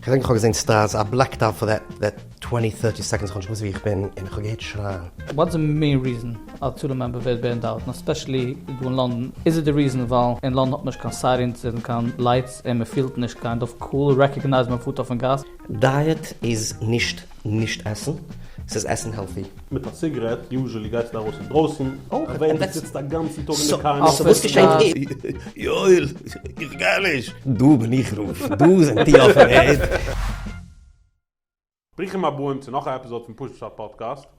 כ'דענק כ'האב געזען סטארס א בלעקט אוט פאר דעט דעט טווענטי טערטי סעקאנדס כ'האב נישט געוואוסט ווי איך בין און כ'האב געהערט שרייען. וואטס די מעין ריזען א טורם מעמבער ווערט בענד אוט און עספעשעלי דא אין לאנדאן? איז איט די ריזען ווייל אין לאנדאן האט מען נישט קיין סיירינס און קיין לייטס און מען פילט נישט קיין דארף קאל רעקאגנייז מען פארט אויפן גאס? דייעט איז נישט נישט עסן, ס'איז עסן העלטי. מיט א ציגרעט יוזשעלי גייסטו ארויס אינדרויסן, אויך ווען דו זיצט א גאנצן טאג אין די קאר. סאו וואס געשעהט איז. יואל, איך גיי נישט! דא בין איך רוב, דא זענט איר אויפן ערד. ברוכים הבאים צו נאך א עפיזאד פון פשט פשט פאדקעסט.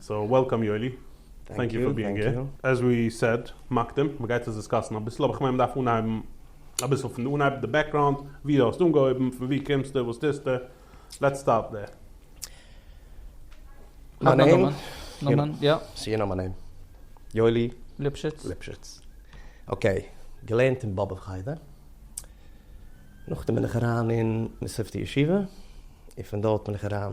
סאו וועלקאם יואלי, טענק יו פאר ביאינג העיר. עז ווי סעד, מקדים, מ'גייט עס דיסקאסן אביסל, אבער כ'מיין מ'דארף אנהייבן אביסל פון די אנהייב, די בעקראונד, ווי דו האסט אנגעהויבן, פון ווי קומסטו, וואס טוסטו, לעטס סטארט דער. מיין נעם? נאמען, יא. סאו יו נאו מיי נעם. יואלי. ליפשיץ. ליפשיץ. אקעי, געלערנט אין באבוב חדר, נאכדעם בין איך אריין אין מסופתא ישיבה, און פון דארט בין איך אריין.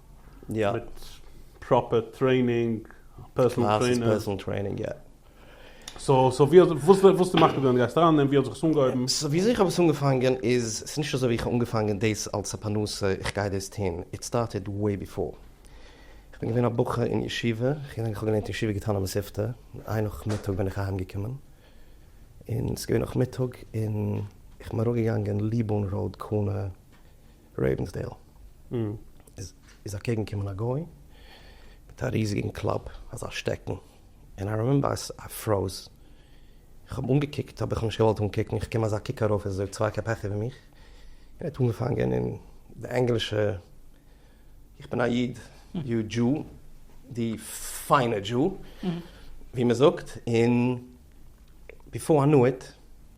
מיט פראפער טרעינינג, פערסאנעל טרעינער. סאו סאו ווי האסטו וואס די מחליט געווען גייסט אריין און ווי האט זיך עס אנגעהויבן? סאו וויאזוי איך האב עס אנגעפאנגען איז, ס'איז נישט אזוי ווי איך האב אנגעפאנגען דאס אלס א פרנסה איך גיי דאס טון, איט סטארטעד וועי ביפאר. איך בין געווען א בחור אין ישיבה, איך געדענק איך האב געלערנט אין ישיבה געטאן א מספתא, איין נאכמיטאג בין איך אהיים געקומען, און ס'איז געווען נאכמיטאג און איך בין אראפגעגאנגען ליבון ראוד קארנער, רעיווענסדעיל איז אקעגן קומען א גוי מיט א ריזיגן קלאב אזא שטעקן און איי רימעמבער איי פראוז איך האב אנגעקוקט האב איך נישט געוואלט אנקוקן איך קום אזא קוק ארויף עס איז אויב צוויי קעפ העכער ווי מיך און ער האט אנגעפאנגען אין די ענגלישע איך בין א איד יו דזשו די פיינע דזשו ווי מען זאגט און. ביפאר איי ניו איט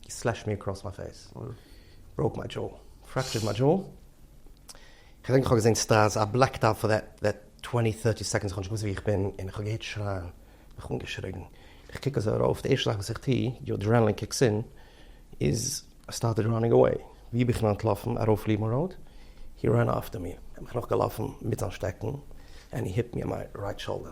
הי סלעשד מי אקראס מיי פעיס. בראוק מיי דזשאו. פרעקטשערד מיי דזשאו. כ'דענק כ'האב געזען סטראז, איי בלעקד אוט פאר דעט טווענטי טערטי סעקאנדס כ'האב נישט געוואוסט ווי איך בין און כ'האב געהערט שרייען. מיך אנגעשריגן. איך קוק אזוי ארויף, די ערשטע זאך וואס איך טו, יו אדרענעלין קיקס אין, איז איי סטארטעד ראנינג אוועי. ווי בין איך אים אנטלאפן? ארויף ליבן ראוד. הי רען אפטער מי. ער האט מיך נאכגעלאפן מיט זיין שטעקן ענד הי היט מי אן מיי רייט שאלדער.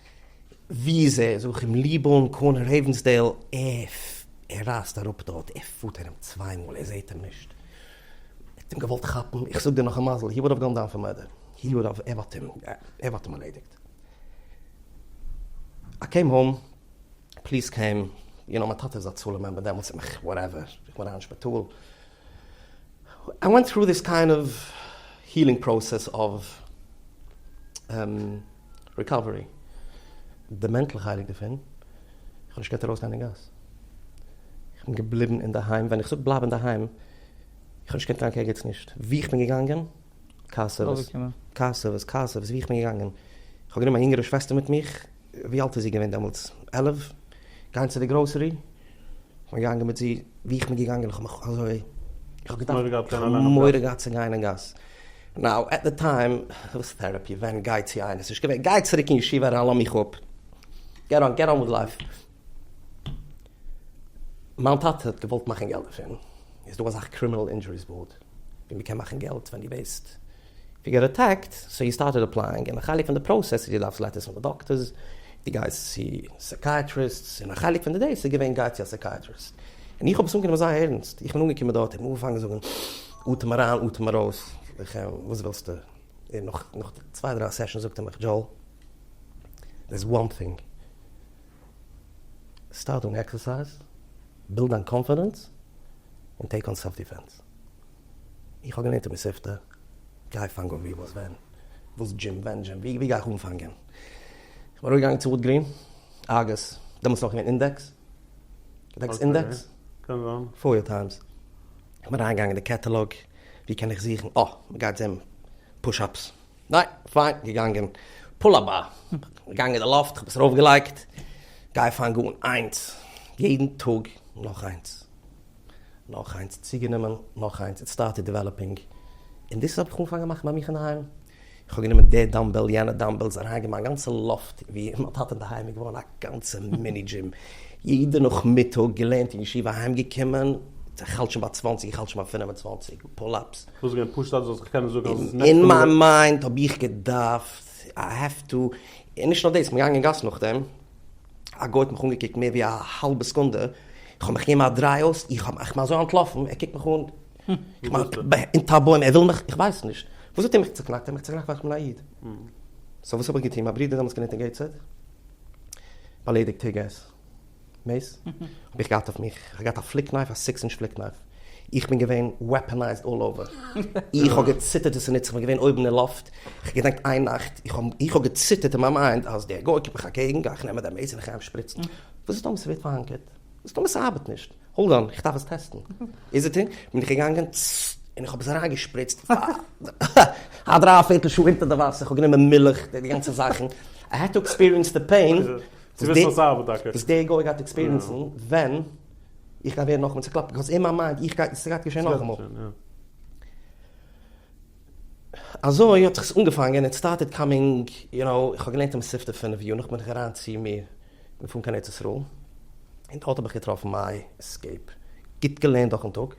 ווי איז ער? זוך אים ליב אן, קארנער העווענסדעיל עוו. ער רייזט אראפ דארט, ער פארט ארום צוויי מאל, ער זעהט אים נישט. ער האט אים געוואלט כאפן, איך זאג דיר נאך א מזל, הי וואלדאוו גאן דאון פאר מורדער, הי וואלדאוו, ער האט אים, ער האט אים ארלעדיגט. איי קעים האום, פליס קעים, יו נאו מיין טאטע זצל איז א מעמבער דעמאלטס, איך וואטעווער, איך בין אריין אין שפיטאל, איי ווענט טרו דיס קיינד אוו הילינג פראסעס אוו ריקאווערי, די מענטל חלק דערפון, איך האב נישט געקענט ארויסגיין אין גאס, איך בין געבליבן אינדערהיים, ווען איך זאג בלייב אינדערהיים, איך האב נישט געקענט גיין קיין ערגעץ נישט, וואו איך בין געגאנגען, קאסעוועס, קאסעוועס, ווי איך בין געגאנגען, איך האב גענומען מיין יונגערע שוועסטער מיט מיך, ווי אלט איז זי געווען דעמאלטס? עלף, גיין צו די גראסערי, איך בין געגאנגען מיט זי, ווי איך בין געגאנגען, איך האב מיך אזוי, איך האב געדארפט, איך האב מורא געהאט צו גיין אין גאס, נאו, עט די טיים, וואס טערעפי, ווען, גיי צו איינער, ס'נישט געווען, גיי צוריק אין ישיבה אריין, לאמיך אפ, געט אן, געט אן וויט לייף. מיין טאטע האט געוואלט מאכן געלט דערפון, איז דא אזאך קרימינעל אינדזשוריס באורד ווי מען קען מאכן געלט ווען דו ווערסט גערעטעקט, סאו יו סטארטעד עפלייאינג, און א חלק פון די פראסעס איז דו דארפסט לעטערס פון די דאקטערס, דו גייסט צו סעקייעטריסטס, און א חלק פון די דעיס איז געווען גיי צו א סעקייעטריסט, און איך האב עס אנגענומען זייער ערנסט, איך בין אנגעקומען דארט, איך האב אנגעפאנגען זאגן אטעם אריין אטעם ארויס, וכו', וואס ווילסטו, און נאך צוויי דריי סעשאנס זאגט ער מיך דזשאו, דערס וואן טינג. סטארט אן עקסערסייז, בילד דיין קאנפידענס, און טעיק אן סעלף דיפענס. איך האב געלערנט אין מספתא, גיי פאנג אן ווי וואס ווען, וואס דזשים ווען דזשים, ווי גיי איך אנפאנגען? איך בין ארויפגעגאנגען צו וואלגרין, ארגעס, דעמאלטס נאך געווען אינדעקס, געדענקסט אינדעקס? קען זיין. פאריאר טיימס. איך בין אריינגעגאנגען אין די קעטעלאג, ווי קען איך זוכן, אה, מ'גייט זען פוש אפס. ניין, פיין געגאנגען. פול אבער געגאנגען די לאפט, כ'האב עס ארויף געלייגט. גיי פאנג אן איינס, יעדן טאג נאך איינס. נאך איינס צוגענומען, נאך איינס, איט סטארטעד דיוועלאפינג. און דאס האב איך אנגעפאנגען מאכן ביי מיך אינדערהיים. איך האב גענומען די דאמבעל, יענע דאמבעלס, אריינגעגעבן מיין גאנצע לאפט, ווי אין מיין טאטע אינדערהיים איז געווארן א גאנצע מיני דזשים. יעדע נאכמיטאג, געלערנט אין ישיבה, אהיימגעקומען, איך האלט שוין ביי צוואנציג, איך האלט שוין ביי פינף און צוואנציג פול אפס. וואס געווען פשוט אז דו זאלסט קענען זאגן אז עס איז נעקסט אין מיין מיינד האב איך געדארפט איי העוו טו, און נישט נאר דאס, כ'בין געגאנגען אין גאס נאכדעם, א גוי האט מיך אנגעקוקט מער ווי א האלבע סעקונדע, איך האב מיך געגעבן א דריי אויס, איך האב מיך אזוי אנטלאפן, ער קוקט מיך אן, אונטער א בוים, ער וויל מיך, איך ווייס נישט, וואס האט ער מיך צוקנאקט, ער האט מיך צוקנאקט ווייל איך בין א איד, סאו וואס האב איך געטון, מיין ברודער דעמאלטס געלערנט אין געיטסהעד, באליידיגט היגערס. מעיס? האב איך געהאט אויף מיך, איך האב געהאט א פליק נייף, א סיקס אינטש פליק נייף, איך בין געווען וועפענייזד אלל אווער, איך האב געציטערט וואס איז נצח, איך בין געווען אויבן אין לופט, איך געדענקט איין נאכט, איך האב געציטערט אין מיין מיינד אז דער גוי קומט מיך אקעגן, גיי איך נעמען די מעיס און איך גיי אים שפריצן, וואס איז טאמער ס'ווערט פארהאנקערט? וואס איז טאמער ס'ארבעט נישט? האלד אן, איך דארף עס טעסטן. איז איט אין, בין איך געגאנגען, צצט, און איך האב עס אריין געשפריצט, א דריי פערטל שעה אונטער די וואסער, איך האב גענומען מילך, די גאנצע זאכן, איי העד טו עקספיריענס די פעין, צו וויסן אז ס'ארבעט טאקע. וואס דער גוי גייט עקספיריענסן ווען איך גיי ווערן נאכאמאל צוקלאפט, ביקאוז אין מיין מיינד איך גיי, ס'גייט געשען נאכאמאל. אזוי האט זיך עס אנגעפאנגען, איט סטארטעד קאמינג, יו נאו, איך האב געלערנט אין מספטו פֿינף יאר, נאכדעם בין איך אריין צו מיר, געפארן קיין ארץ ישראל, און דארט האב איך געטראפן מיי עסקעיפ, גוט געלערנט דורכ'ן טאג.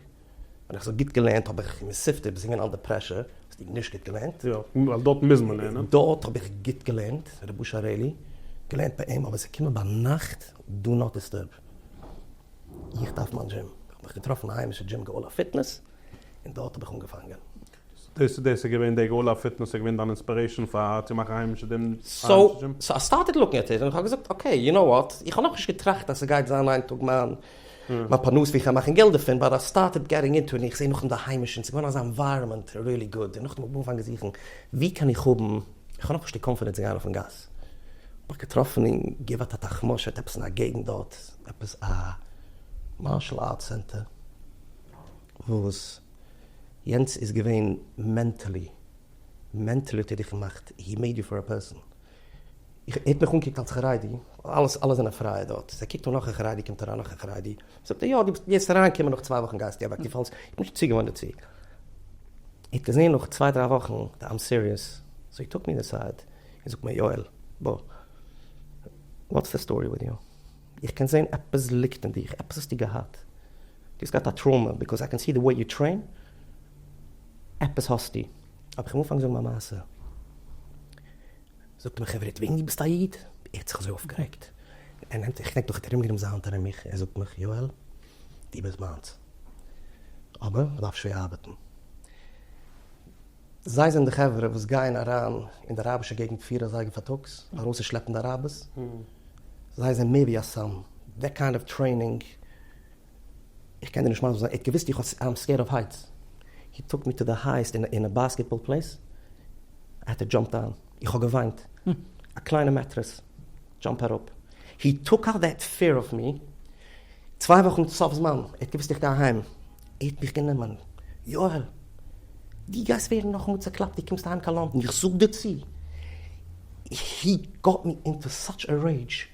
ווען איך זאג גוט געלערנט האב איך מוסיף די זינגען אנדער פרעשור, האסט דו נישט גוט געלערנט. יא, ווייל דארט מוז מען לערנען. דארט האב איך גוט געלערנט, רבוש ע רעלי, געלערנט ביי אים, אבער עס איז געקומען ביינאכט, דא נאט דיסטורב. איך דארף מיין דזשים. איך האב מיך געטראפן א היימישע דזשים גאולה פיטנעס, און דארט האב איך אנגעפאנגען. דאס איז דאס איז געווען די גאול אויף פיטנעס איז געווען דיין אינספירעישאן פאר צו מאכן היימישע דין סאו סאו איי סטארטעד לוקן עט איט און כ'האב געזאגט אקעי יו נאו וואט איך האב נאכנישט געטראכט אז ס'גייט זיין איין טאג מיין מיין פרנסה ווי כ'גיי מאכן געלט דערפון באט איי סטארטעד געטינג אינטו און איך זעה נאכדעם די היימישע און ס'איז געווארן אזא ענווייראמענט ריעלי גוד און נאכדעם האב איך אנגעפאנגען זוכן ווי קען איך האבן איך האב נאכנישט די קאנפידענס צו גיין אויפן גאס האב איך געטראפן אין גבעת התחמושת עפעס אין א געגנט דארט עפעס א מארשעל ארט סענטער. וואס יענץ איז געווען מענטעלי, מענטעלי האט ער דיך געמאכט, הי מעיד יו פאר א פערסאן, איך, ער האט מיך אנגעקוקט אלס חרדי, אלעס, אלע זענען פרייע דארט, זיי קוקט אן נאך א חרדי קומט אריין נאך א חרדי, זאגט ער יא דו ביסט, גייסט אריין קומען נאך צוויי וואכן גייסטו אוועק, דו פאלסט, איך בין נישט צוגעוואוינט דערצו, ער האט געזען נאך צוויי דריי וואכן די איים סיריעס, סאו הי טאק מי אינעסייד, און זאגט מיר יואל בוא, וואטס די סטארי וויט יו, איך קען זען עפעס ליגט אין דיך, עפעס האסטו געהאט, דו האסט געהאט א טראומא ביקאוז איי קען סי די וועי יו טרעין, עפעס האסטו. אבער כ'וועל אנפאנגען זאגן מיין מעשה. זאגט מיר חברה וועגן דו ביסט א איד? ער האט זיך אזוי אויפגערעגט. ער נעמט זיך ער האט ארומגענומען זיין האנט ארום מיך ער זאגט מיך יואל דו ביסט מיינס אבער מ'דארף שווער ארבעטן. זיי זענען די חברה וואס גייען אריין אין די אראבישע געגנט פיר אזייגער פארטאגס ארויסצושלעפן די אראבערס, זיי זענען מער ווי א סם דעט קיינד אוו טרעינינג, איך קען דיר נישט מסביר זיין, ער האט געוויסט איך האב סק איים סקעירד אוו הייטס, הי טאוק מי טו די הייעסט אין א באסקעטבאל פלעיס, ער האט ער דזשאמפט דאון. איך האב געוויינט, א קליינע מעטרעס דזשאמפ אראפ, הי טאק אוט דעט פעיר אוו מי, צוויי וואכן סוף זמן, ער האט געוואוסט איך גיי אהיים, ער האט מיך גענומען, יואל! דו גייסט ווערן נאכאמאל צעקלאפט, דו קומסט אהיים קיין לאנדן, איך זאג דיר צו, הי גאט מי אינטו סאטש א רעידזש,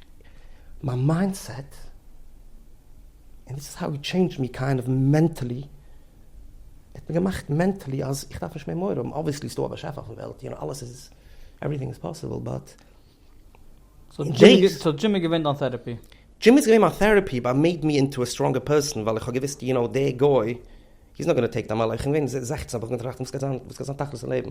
מיין מיינדסעט, און דיס איז האו הי טשעינדזשד מי קיינד אוו מענטעלי. ער האט מיר געמאכט מענטעלי אז איך דארף נישט מער מורא האבן, אבוויעסלי איז דא א באשעפער אויפן וועלט, יענע אלעס איז, עווריטינג איז פאסיבל, באט. סאו דזשים איז געווען דיין טערעפי? דזשים איז געווען מיין טערעפי באט מעיד מי אינטו א סטראנגער פערסאן, ווייל איך האב געוויסט יו נאו דער גוי, הי איז נאט גאנא טעיק דיין מאן, איך בין געווען זעכצן האב איך מיר געטראכט וואס גייט זיין תכלית אין לעבן,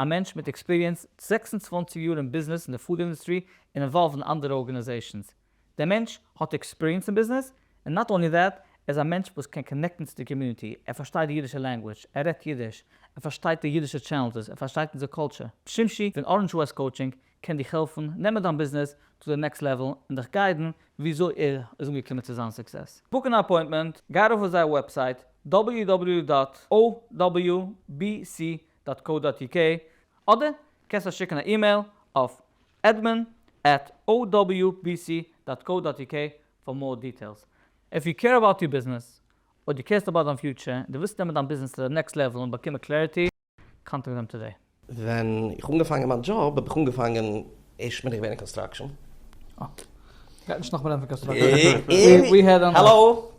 א מענטש מיט עקספיריענס, זעקס און צוואַנציק יאר אין ביזנעס אין די פוד אינדוסטרי און אינוואלווד אין אנדערע ארגענעזעישאנס. דער מענטש האט עקספיריענס אין ביזנעס, און נאט אנלי דעט, ער איז א מענטש וואס קען קאנעקטן צו די קאמיוניטי, ער פארשטייט די אידישע לענגוויטש, ער רעדט אידיש, ער פארשטייט די אידישע טשעלענדזעס, ער פארשטייט אונזער קולטשור. שמשי פון אראנדזש וועסט קאוטשינג קען דיך העלפן נעמען דיין ביזנעס צו די נעקסט לעוועל און דיך גיידן וויאזוי ער איז אנגעקומען צו זיין סוקסעס. בוק אן אפוינטמענט, גיי ארויף אויף זייער וועבסייט www דאט OWBC דאט קאו דאט יו קעי, אדער קענסט עס שיקן א אימעיל אויף admin at owbc דאט קאו דאט יו קעי פאר מאר דיטעילס. איף יו קעיר אבאוט יור ביזנעס, אויב דו קעירסט אבאוט דיין פיוטשער און דו ווילסט נעמען דיין ביזנעס צו די נעקסט לעוועל און באקומען קלעריטי, קאנטעקט דעם טודעי. ווען איך אנגעפאנגען מיין דזשאב האב איך אנגעפאנגען ערשט בין איך געווען אין קאנסטראקשען. אה. גייט נישט נאכמער רעדן פון קאנסטראקשען. און. האלאו.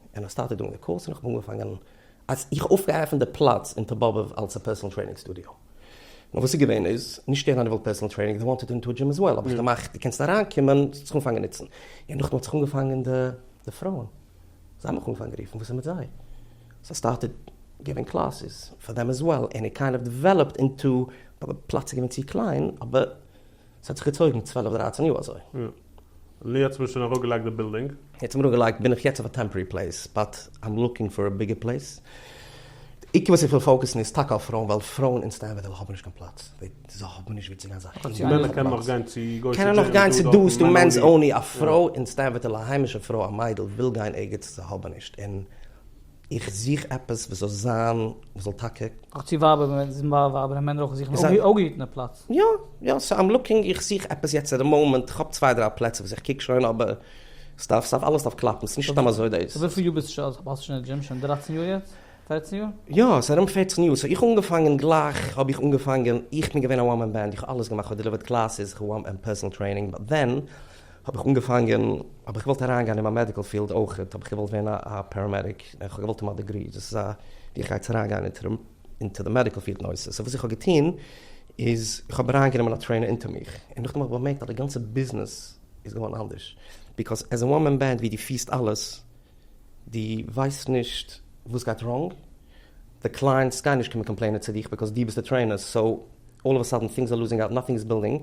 און איך סטארטעד דוינג די קאורס און איך האב אנגעפאנגען אז איך האב אויפגעעפענט די פלאץ אין טאבאבוב אלס א פערסענעל טרעינינג סטודיאו. נאר וואס איז געווען איז, נישט ערענע וויל פערסענעל טרעינינג, דעי וואנטעד אינטו דזשים עז וועל, האב איך געמאכט דו קענסט אריינקומען, זאלסט זיך אנפאנגען נוצן. און נאכדעם האט זיך אנגעפאנגען די פרויען, זיי האבן מיך אנגעפאנגען רופן וואס איז מיט זיי. סאו סטארטעד געבען קלאסעס פאר דעם עז וועל, און איט קיינד אוו דעוועלאפד אינטו, די פלאץ איז געווען צו קליין אבער. ס'האט זיך געצויגן צוועלף דרייצן יאר אזוי. יא. לי האט צוביסלען אראפגעלייגט די בילדינג. יעצט האמיר אנגעלייגט בין איך יעצט אויף א טעמפארי פלעיס באט איים לוקינג פאר א ביגער פלעיס. די עיקר וואס איך וויל פאוקעסן איז טאקע אויף פרויען ווייל פרויען אין סטענווער דעלהי האבן נישט קיין פלאץ. זיי האבן נישט ווי צו גיין זיי האבן קיין פלאץ. קענען נאך גיין צו גוישע דזשים. קענען נאך גיין צו דא ס'דא מענס אנלי. א פרוי אין סטענווער דעלהי א היימישע פרוי א מיידל וויל גיין ערגעץ זיי האבן נישט און. איך זוך עפעס וואס זאל זיין וואס זאל טאקע. אויך צו ווייבער ווען עס איז ווייבער וועלכע מענער אויך זוכן אפגעהיטענע פלאץ. יא יא סאו איים לוקינג איך זוך עפעס יעצט אין די מאמענט איך האב צוויי דריי פלעצער וואס איך קוק שוין אבער עס דארף עס דארף אלעס דארף קלאפן עס איז נישט סתם אזוי דאס. סאו וויפיל יאר ביסטו שוין אלס האסטו שוין די דזשים שוין דרײַצן יאר יעצט? פֿערצן יאר? יא עס איז ארום פֿערצן יאר סאו איך האב אנגעפאנגען גלייך האב איך אנגעפאנגען איך בין געווען א וואן מען בענד איך האב אלעס געמאכט איך האב דעליווערט קלאסעס איך האב פערסענעל טרעינינג באט דען האב איך אנגעפאנגען, האב איך געוואלט אריינגיין אין מיין מעדיקל פיעלד אויכעט, האב איך געוואלט ווערן א א פעראמעדיק, און כ'האב געוואלט האבן א דעגרי, דאס איז א ווי איך גיי צו אריינגיין אונטערן אונטער די מעדיקל פיעלד נושא, סאו וואס איך האב געטון איז, איך האב אריינגענומען א טרעינער אונטער מיך, און נאכדעם האב איך באמערקט אז די גאנצע ביזנעס איז געווארן אנדערש, ביקאוז עז א וואן מען בענד ווי דו פירסט אלעס, דו ווייסט נישט וואס גייט ראנג, די קלייענטס גייען נישט קומען קאמפלעינען צו דיך ביקאוז דו ביסט די טרעינער, סאו אלל אוו א סאדען טינגס אר לוזינג אוט נאטינג איז בילדינג,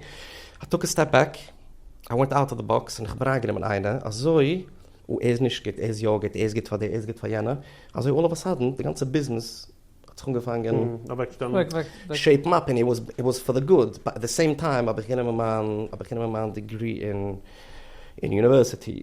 איי טאק א סטעפ בעק, איי ווענט אוט אוו די באקס און איך האב אריינגענומען איינע אזוי, אה ער איז נישט גוט, ער איז יא גוט, ער איז גוט פאר די ער איז גוט פאר יענע, אזוי אלל אוו א סאדען די גאנצע ביזנעס האט זיך אנגעפאנגען שעיפן אפ און איט וואס פאר די גוד, באט עט די סעים טיים האב איך גענומען מיין האב איך גענומען מיין דעגרי אין יוניווערסיטי.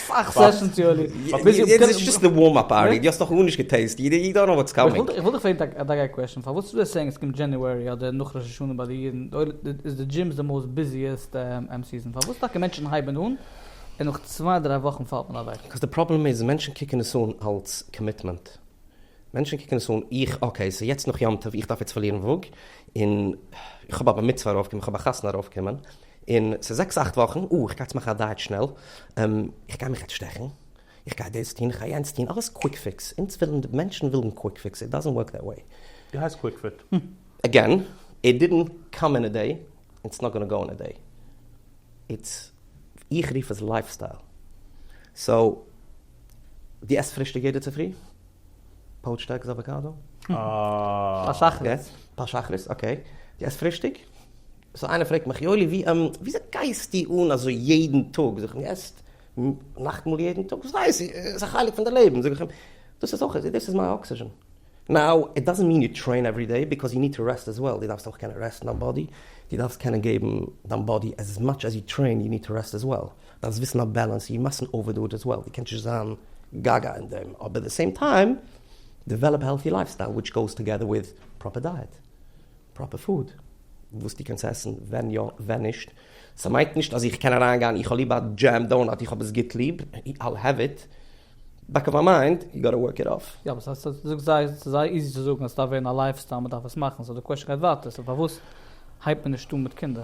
סאך סעשאנס יואלי. יעצט איז דשאסט די ווארם אפ פארטי, די האסט נאך גארנישט געטעיסט, יו דאנט נאו וואטס קאמינג. איך וואלט דיך פרעגט א דאגאי קוועשאן, פארוואס איז דער סעיאינג עס קומט דזשעניוערי אדער נאך ראש השנה ביי די אידן איז די דזשימס די מאוסט ביזיעסט סיזאן, פארוואס טאקע מענטשן הייבן אן און נאך צוויי דריי וואכן פאלט מען אוועק? קאוז די פראבלעם איז מענטשן קוקן עס אן אלס קאמיטמענט, מענטשן קוקן עס אן איך אקעי סאו יעצט נאך יום טוב איך דארף יעצט פארלירן וואג, און איך האב א בר מצוה ארויף קומען, איך האב א חתונה ארויף קומען, און ס'איז זעקס אכט וואכן, אה, איך גיי יעצט מאכן א דייעט שנעל, און איך גיי מיך יעצט שטעכן, איך גיי דאס טון, איך גיי יענץ טון, אלעס קוויק פיקס, אונז ווילן, די מענטשן ווילן קוויק פיקס, איט דאזענט ווארק דעט וועי. די הייסט קוויק פיט? אגעין, איט דידענט קאם אין א דעי, און ס'איז נאט גאנא גאו אין א דעי. איטס, איך רוף עס לייף סטייל. סאו, דו עסט פרישטאג יעדע צופרי? פאוטשד עגס אוואקאדא? אה. פאר שחרית. פאר שחרית, אקעי. דו עסט פרישטאג? סאו איינער פרעגט מיך יואלי ווי און וויאזוי גייסטו אן אזוי יעדן טאג? זאג איך אים עסט נאכטמאל יעדן טאג, וואס ווייס איך, ס'איז א חלק פון די לעבן, זאג איך אים, דאס איז אויך, דאס איז מיין אקסיזשען. נאו איט דאזענט מיען יו טרעין עווערי דעי ביקאוז יו ניד טו רעסט עז וועל, דו דארפסט אויך קענען רעסטן דיין באדי, דו דארפסט קענען געבן דיין באדי עז מאטש עז יו טרעין, יו ניד טו רעסט עז וועל, דארפסט וויסן א בעלענס, יו מאסטנט אווער דו איט עז וועל, דו קענסט נישט זיין גאגא אין דעם, אבער עט די סעים טיים דעוועלאפ א העלטי לייף סטייל וויטש גאוס טאגעדער וויט פראפער דייעט פראפער פוד, וואס דו קענסט עסן, ווען יא ווען נישט, סא מיינט נישט אז איך קען אריין גיין איך האב ליב א דזשעם דאונאט איך האב עס גוט ליב, I'll have it, בעק אוו מיי מיינד, יו גאטע ווארק איט אף. יא אבער ס'הייסט אז זאגסט זיי ס'איז זייער איזי צו זאגן אז ס'דארף ווערן א לייפסטייל מ'דארף עס מאכן סא די קוועשן גייט ווייטער סא פארוואס הייבט מען נישט אן מיט קינדער?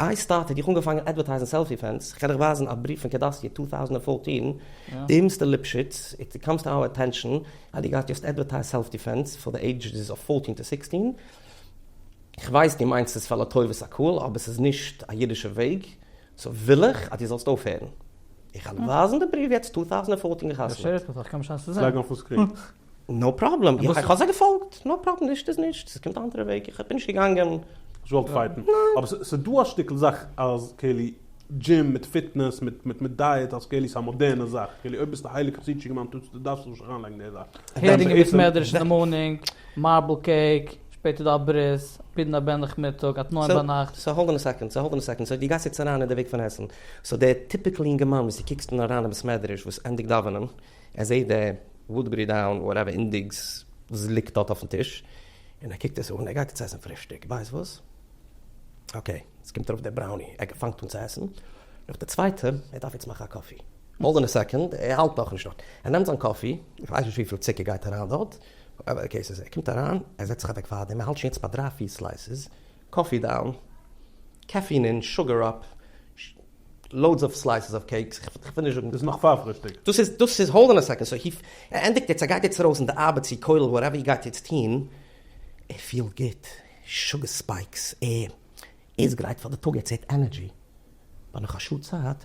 איי סטארט האט דיך אנגעפאנגען אדווערטייזן סעלפי פענס, איך קען דיך ווייזן א בריוו פון קעדאסיע טו טאוזענט פֿאורטין, דיער מיסטער ליפשיץ, איט קאמס טו אווער אטענשאן אז דו גייסט יעצט אדווערטייז סעלפטי פענס פאר די עידזשעס אוו פֿאורטין טו סיקסטין, איך ווייס דו מיינסט עס פאר לטובת הקהל אבער ס'איז נישט א אידישע וועג, סאו וויל איך אז דו זאלסט אויפהערן. איך העל ווייזן די בריוו יעצט טו טאוזענט פֿאורטין געחתמעט. נאו פראבלעם, איך האב זיי געפאלגט, נאו פראבלעם, נישט איז נישט, עס קומט א אנדערע וועג, איך בין נישט געגאנגען. האסט געוואלט פייטן? ניין. אבער ס'איז דא א שטיקל זאך אז כאילו דזשים מיט פיטנעס מיט מיט מיט דייעט אז כאילו ס'איז א מאדערנע זאך, כאילו אויב ביסטו הייליג חסידישע געמיינדע טוטס דו דארפסט נישט אריינלייגן די זאך. הערינג אין בית מדרש אין די מארנינג, מארבל קעיק, שפעטער דא א ברית, פידן א בן נאכמיטאג, א תנאים ביינאכט. סאו האלד אן א סעקאנד, סאו האלד אן א סעקאנד, סאו דו גייסט יעצט אריין אין די וועג פון עסן, סאו דער טיפיקל יונגערמאן וואס דו קוקסט אן אריין אין בית מדרש וואס ענדיגט דאווענען, ער זעהט די וואודבערי דאון וואטעווער אינדעקס וואס ליגט דארט אויפן טיש, און ער קוקט עס אן, ער גייט יעצט עסן פרישטאג, ווייסט וואס? אקעי, עס קומט ארויף די בראוני, ער פאנגט אן צו עסן, נאך די צווייטע, ער דארף יעצט מאכן א קאפי, האלד אן א סעקאנד, ער האלט נאכנישט דארט, ער נעמט זיין קאפי, איך ווייס נישט וויפיל צוקער גייט אריין דארט, אקעי, ער קומט אריין, ער זעצט זיך אוועק פאר דעם, ער האלט שוין יעצט ביי דריי פיר סלייסעס, קאפי דאון, קעפין אין, שוגער אפ, לאודס אוו סלייסעס אוו קעיקס, איך וויל נישט זאגן. דאס נאך פאר פרישטאג. דאס איז דאס איז האלד אן א סעקאנד סאו הי ער ענדיגט יעצט ער גייט יעצט ארויס אין די ארבעט צו כולל וואטעווער איר גייט יעצט טוהן ער פילט גוט שוגער ספייקס ער איז גרייט פאר די טאג ער צעהט ענערדזשי ביי נאך א שעה צייט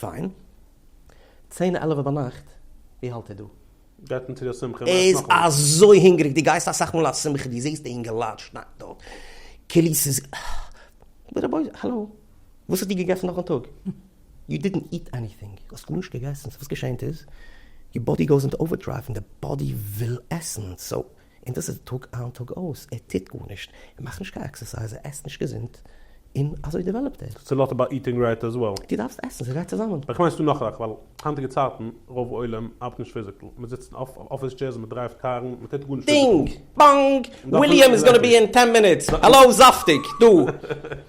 פיין. צען עלעווע ביינאכט, ווי האלט איר דא? גייט מען צו די שמחה און עסט נאכאמאל. ער איז אזוי הונגעריג, דו גייסט אסאך מאל א שמחה, דו זעסט די אינגעלייט שניידן דארט כאילו ס'איז ב ה בואי האלא, וואס האסטו געגעסן נאכן טאג? יו דידענט איט עניטינג, דו האסט גארנישט געגעסן, סאו וואס געשענט איז, יור באדי גאוס אינטו אווערדרייוו און די באדי וויל עסן, סאו און דאס איז טאג איין טאג אויס, ער טוט גארנישט, ער מאכט נישט קיין עקסערסייז, ער עסט נישט געזונט, און אזוי דעוועלאפט ער. סאיז נאט אבאוט איטינג רייט עז וועל. דו דארפסט עסן, ס'גייט צוזאמען. איך מיין ס'דא נאך זאכן, ווייל היינטיגע צייטן רוב עולם ארבעט נישט פיזיקל, מ'זיצט אין אפיס טשעירס און מ'דרייווט קארן, מ'טוט גארנישט פיזיקל. דינג! באנג! וויליאם איז גאנא בי אין טען מינוטס! האלאו זאפטיג! דא!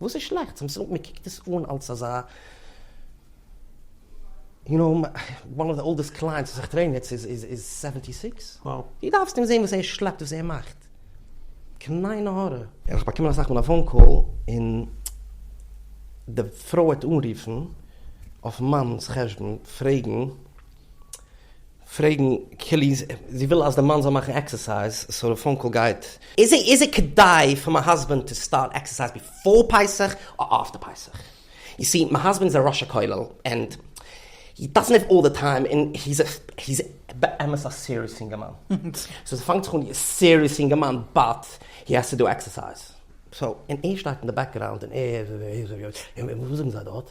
וואס איז שלעכטס? מען קוקט עס אן אלס אזא, יו נאו, וואן אוו די אולדעסט קלייענטס וואס איך טרעין יעצט איז סעווענטי סיקס. דו דארפסט אים זען וואס ער שלעפט, וואס ער מאכט. קנאי נהורא. און איך האב באקומען אסאך מאל א פאון קאל, און די פרוי וועט אנרופן אויף מאנ'ס חשבון פרעגן. פרעגן כלי ז, זי וויל אז די מאן זאל מאכן עקסערסייז, סאו די פאון קאל גייט. איז איז כדאי פאר מיי האזבענד טו סטארט עקסערסייז ביפאר פסח אר אפטער פסח? יו סי מיי האזבענד איז א ראש הכולל ענד הי דאזענט האוו אלל די טיים און היז היז באמת א סיריעס יונגערמאן סאו ס'פאנגט זיך אן ווי א סיריעס יונגערמאן באט הי האס טו דו עקסערסייז סאו און ער שטייט אין די בעקגראונד און ער וואס זאגן זיי דארט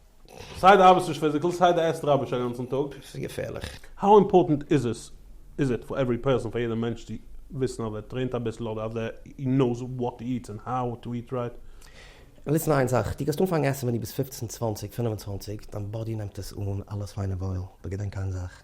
סיי די ארבעסט נישט פיזיקעל סיי די עסט ראביש אגאנצן טאג. עס איז געפערליך. האו אימפארטענט איז עס איז איט פאר עווערי פערסאן פאר יעדע מענטש צו וויסן אז ער טרעינט אביסל אדער אז ער הי נאוס וואט הי איטס ענד האו טו איט רייט? ליסן איין זאך, דו גייסט אנפאנגן עסן ווען דו ביסט פֿופֿצן, צוואַנציק, פֿינף און צוואַנציק, דיין באדי נעמט עס אן אלעס פיין און וואויל, אבער געדענק איין זאך,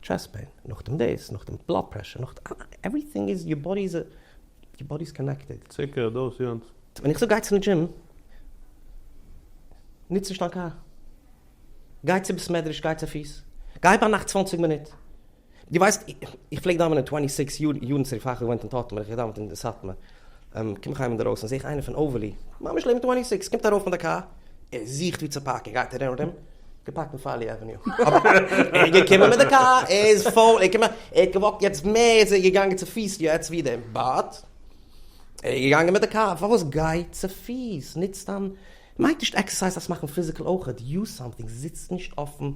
טשעסט פעין, נאכדעם דאס, נאכדעם בלאד פרעשור, נאכדעם עווריטינג איז, יור באדי איז, יור באדי איז קאנעקטעד. ציקער, דאס, יענץ. ווען איך זאג גיי צו די דזשים, נוץ נישט דיין קאר, גיי צו בית מדרש, גיי צופיס, גיי ביינאכט צוואנציג מינוט, דו ווייסט, איך פלעג דאווענען טווענטי סיקס יאר, יארן צוריק פאר איך האב געוואוינט אין טאטמער, איך האב געדאווענט אין סאטמאר. קום איך אהיים אינדערויסן זעה איך איינער פון אוועלי, ממש לעבן טווענטי סיקס, קומט ארויף פון די קאר, ער זוכט וואו צו פארקן, גייט ארום ארום, געפארקט אין פארלי עוועניו. ער איז געקומען מיט די קאר, ער איז פול, ער איז געקומען, ער האט געוואקט יעצט מער, יעצט איז ער געגאנגען צופיס יעצט ווי דעם בארט, ער איז געגאנגען מיט די קאר, פארוואס גיי צופיס, ניץ דיין מיינט נישט עקסערסייז דארפסט מאכן פיזיקל אויך דו סאמטינג זיצט נישט אויפן.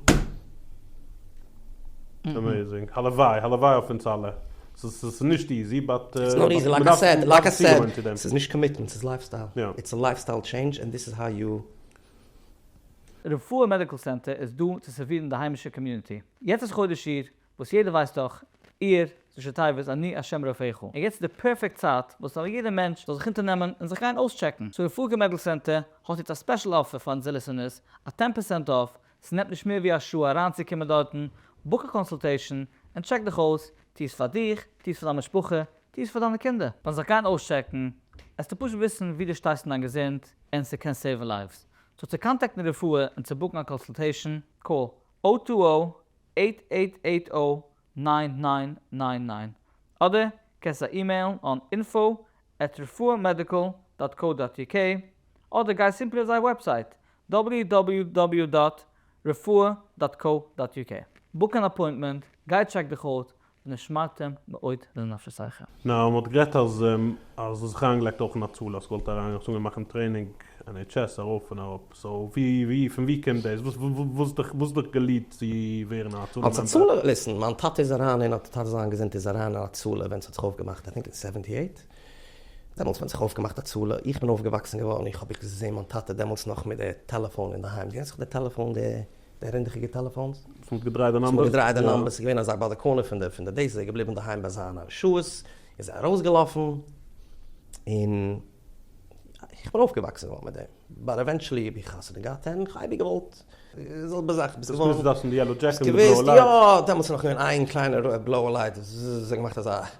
עמעזינג, הלוואי הלוואי אויף אונז אלע, ס'איז נישט איזי באט מ'דארף זיך צוגעוואוינען צו דעם. ס'איז נישט קאמיטמענט ס'איז לייפסטייל, איטס א לייפסטייל טשעינדזש ענד דיס איז האו יו. רפואה מעדיקל סענטער איז דא צו סערווירן די היימישע קאמיוניטי. יעצט איז חודש אייר, וואס יעדער ווייסט דאך, אייר איז ראשי תיבות אני השם רופאיך, און יעצט איז די פערפעקט צייט וואס ס'זאל יעדער מענטש זאל זיך אונטערנעמען און זיך גיין אויסטשעקן, סאו רפאלקע מעדל סענטער האט יעצט א ספעשל אפער פאר אונזער ליסענערס, א טען פערסענט אףף, ס'נעמט נישט מער ווי א שעה אריינצוקומען דארטן, בוק א קאנסולטעישן, און טשעק דיך אויס, טו עס פאר דיך, טו עס פאר דיין משפחה, טו עס פאר דיינע קינדער. ביים זיך גיין אויסטשעקן, עסטו פשוט וויסן ווי דו שטייסט אין דיין געזונט, און ס'קען סעיוון לייווס. סאו צו קאנטעקטן רפואה און צו בוקן א קאנסולטעישן, קאל, או טו או, עיט עיט עיט או ניין ניין ניין ניין אדער קענסט זיי אימעילן אן אינפאו עט רפואה מעדיקל דאט קאו דאט יו קעי אדער גיי סימפלי אויף זייער וועבסייט דאבליו דאבליו דאבליו דאט רפואה דאט קאו דאט יו קעי בוק אן אפוינטמענט גיי טשעק דיך אוט ונשמרתם מאוד לנפשותיכם. נאר מען האט גערעדט אז אז דאס זיך אריינגעלייגט אויך אין הצלה אז כוואלט אריין אנגעצונגען מאכן טרעינינג NHS ארויף און אראפ סאו ווי ווי פון ווי קומט דאס וואס וואס וואס האט דיך געליעדט צו ווערן א הצלה אלס מעמבער? הצלה? ליסן, מיין טאטע איז אריין אין א טאטע זיין געזונט איז אריין אין הצלה ווען ס'האט זיך אויפגעמאכט איי טינק אין סעווענטי עיט דעמאלטס ווען זיך אויפגעמאכט הצלה איך בין אויפגעוואקסן געווארן איך האב איך געזעהן מיין טאטע דעמאלטס נאך מיט די טעלעפאון אינדערהיים זעהן זיך די טעלעפאון די די רינדעכיגע טעלעפאנס. וואס מ'האט געדרייט די נומבערס. וואס מ'האט געדרייט די נומבערס. ס'איז געווען אזא בדקנות פון די פון די דאס. ער איז געבליבן אינדערהיים ביי זיינע שעות. איז ער ארויסגעלאפן. און איך בין אויפגעוואקסן געווארן מיט דעם. באט עווענטשעלי האב איך חתונה געהאט און כ'האב אייביג געוואלט די זעלבע זאך. ביסט געווארן. ביסט געווען אינדערויסן די יעלאו דזשעקעט מיט די בלויע לייטס. יא, דעמאלטס איז נאך געווען איין קליינע בלויע לייט. זזזז. ער האט געמאכט אזא.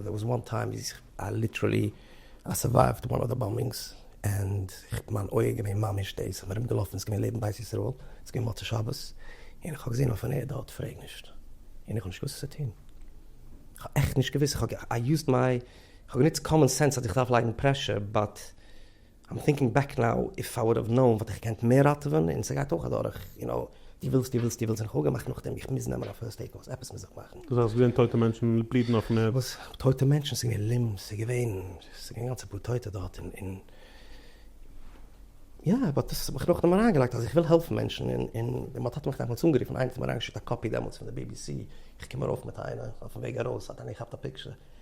דער וואס וואן טיים איז איי ליטערלי איי סורווייווט וואן אוו די באמבינגס ענד איך מיין אויג געווען ממש דעיס איך בין ארום געלאפן איז געווען לעבן בית ישראל איז געווען מוצאי שבת און איך האב געזען אויפן ערד דארט פרעג נישט און איך האב נישט געוואוסט וואס צו טון איך האב עכט נישט געוואוסט איך האב געיוזט מיי איך האב גענוצט קאמאן סענס אז איך דארף לייגן פרעשור באט. איים טינקינג בעק נאו, איף איי וואלד האב נאון וואלט איך געקענט מער ראטעווען, און ס'גייט אויך אדורך, יו נאו, דו ווילסט דו ווילסט דו ווילסט, און איך האב געמאכט נאכדעם, איך מוז נעמען א פירסט עיד קאורס, עפעס מוז איך מאכן. דאס הייסט געווען טויטע מענטשן בלידן אויפן ערד? וואס טויטע מענטשן, ס'איז געווען לימב, ס'איז געווען, ס'איז געווען גאנצע פאר טויטע דארט, און און יא, באט דאס האב איך נאכדעם אריינגעלייגט אז איך וויל העלפן מענטשן, און און ווען מ'האט מיך דעמאלטס אנגערופן, איינער האט מיר אריינגעשיקט א קאפי דעמאלטס פון די BBC, איך קום ארויף מיט איינער, אויפן וועג ארויס האט איינער געכאפט א פיקטשער.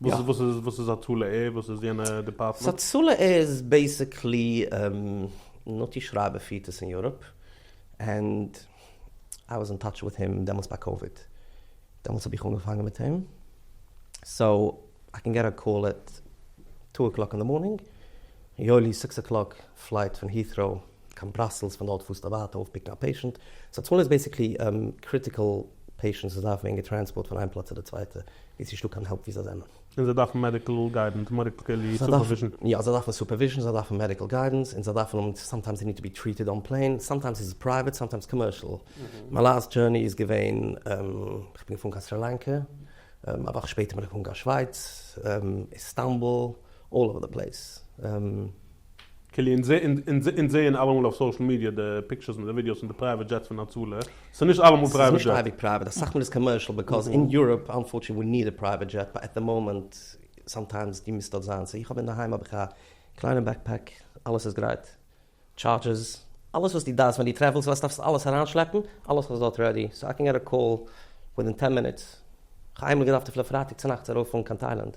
וואס איז וואס איז וואס איז הצלה עיר וואס איז יענע דיפארטמענט? הצלה עיר איז בעיסיקלי נתי שרייבער פירט עס אין יוראפ ענד איי וואס אין טאטש וויט הים דעמאלטס ביי קאוויד דעמאלטס האב איך אנגעפאנגען מיט אים סאו איי קען געט א קאל עט טו אקלאק אין די מארנינג יואלי סיקס אקלאק פלייט פון היטראו קיין בראסעלס, פון דארט פארסטו ווייטער אויפפיקן א פעישענט, סא דאס מאל איז בעסיקלי קריטיקעל פעישענטס וואס דארפן ווערן געטרענספארט פון איין פלאץ צו די צווייטע, ווי ס'נישט דא קיין העלפ ווי זיי זענען. און זיי דארפן מעדיקעל גיידענס, מעדיקעלי סופערוויזשן. יא, זיי דארפן סופערוויזשן, זיי דארפן מעדיקעל גיידענס, און זיי דארפן האבן, סאמטיימס זיי ניד טו בי טריטעד אן פלעין, סאמטיימס איז עס פרייוועט, סאמטיימס קאמערשעל. מיין לאסט דזשורני איז געווען, איך בין געפארן קיין סרי לאנקע, א וואך שפעטער בין איך געפארן קיין שווייץ, איסטאנבול, אלל אווער די פלעיס. קעלי, אונז זעהן אלעמאל אויף סאושעל מידיע די פיקטשערס און די ווידיאוס פון די פרייוועט דזשעטס פון הצלה, ס'איז נישט אלעמאל פרייוועט דזשעט. ס'איז נישט אייביג פרייוועט, אסאך מאל איז קאמערשעל, בעקאז אין יוראפ אנפארטשענעטלי ווי ניד א פרייוועט דזשעט באט עט די מאמענט סאמטיימס דו מוזט דארט זיין, סאו איך האב אינדערהיים האב איך א קליינע בעקפעק, אלעס איז גרייט, טשארדזשערס, אלעס וואס דו דארפסט ווען דו טרעוולסט ווייסט דארפסט אלעס אריינשלעפן, אלעס איז דארט רעדי, סאו איי קען געט א קאל ווידין טען מינוטס, כ'האב איינמאל געדארפט אפילו פרייטאג צונאכטס ארויפפארן קיין טיילענד,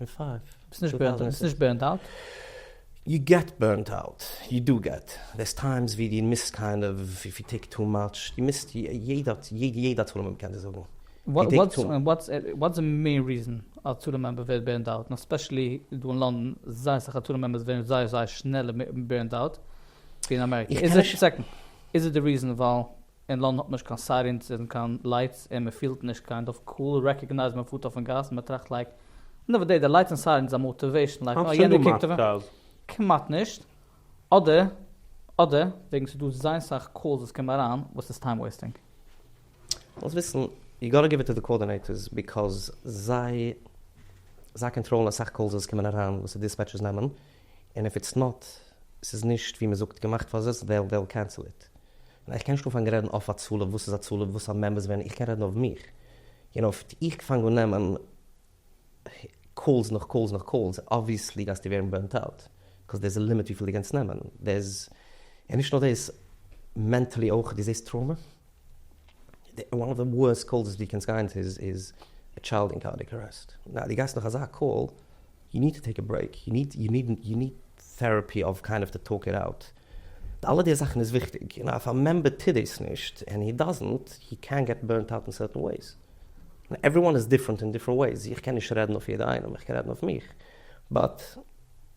און פייף ביסט נישט בורנד ביסט נישט בורנד אוט. יו געט בורנד אוט, יו דו געט, דערס טיימס ווי דו מוזט קיינד אוו איף יו טעיק טו מאטש, דו מוזט יעדע טורנער מעמבער קען דיר זאגן דו טעיק טו. וואטס די מעין ריזען א טורנער מעמבער ווערט בורנד אוט, און עספעשעלי דא אין לאנדאן זייער אסאך א טורנער מעמבערס ווערן זייער זייער שנעלער בורנד אוט ווי אין אמעריקע, איז עס די ריזען ווייל אין לאנדן האט מען נישט קיין סיירינס אין קיין לייטס אין מען פילט נישט קיין דארף קאל רעקאגנייז מען פארט אויפן גאס מען טראכט לייק ענד אוו די דעי לייטס אין סיירינס איז א מאטיוועישן לייק אה יענער קוקט אויף מיר כמעט נישט אדער אדער וועגן ס'איז דא זייער סאך קאלס וואס קומען אריין וואס איז טיים וועיסטינג. זאלסט וויסן יו גאטע גיוו איט טו די קאארדינעיטערס ביקאוז זיי זיי קאנטראלן אסאך קאלס וואס קומען אריין וואס די דיספעטשערס נעמען און איף איטס נאט ס'איז נישט ווי מ'זאגט געמאכט פאר זיס זיי וויל קענסל איט. און איך קען נישט אנפאנגען רעדן אויף הצלה וואס איז הצלה וואס א מעמבערס ווען איך קען רעדן אויף מיך און אויף איך פאנג אן נעמען קאלס נאך קאלס נאך קאלס אבוויעסלי גייסטו ווערן בורנט אוט קאוז דערס א לימיט וויפיל דו קענסט נעמען דערס און נישט נאר דאס מענטעלי אויך דו זעסט טראומע די וואן אוו די ווארסט קאלס וואס דו קענסט גיין צו איז א טשיילד אין קארדיעק ארעסט ווייל דו גייסט נאך אזא קאל יו ניד טו טעיק א ברעיק יו ניד יו ניד יו ניד טעראפי אוו קיינד אוו טו טאלק איט אוט. אלע די זאכן איז וויכטיג, און אויף א מעמבער טוט דאס נישט, ענד הי דאזענט, הי קען געט בורנט אוט אין סערטען וועיס. עווריוואן איז דיפרענט אין דיפרענט וועיס, איך קען נישט רעדן אויף יעדע איינעם, איך קען רעדן אויף מיך, באט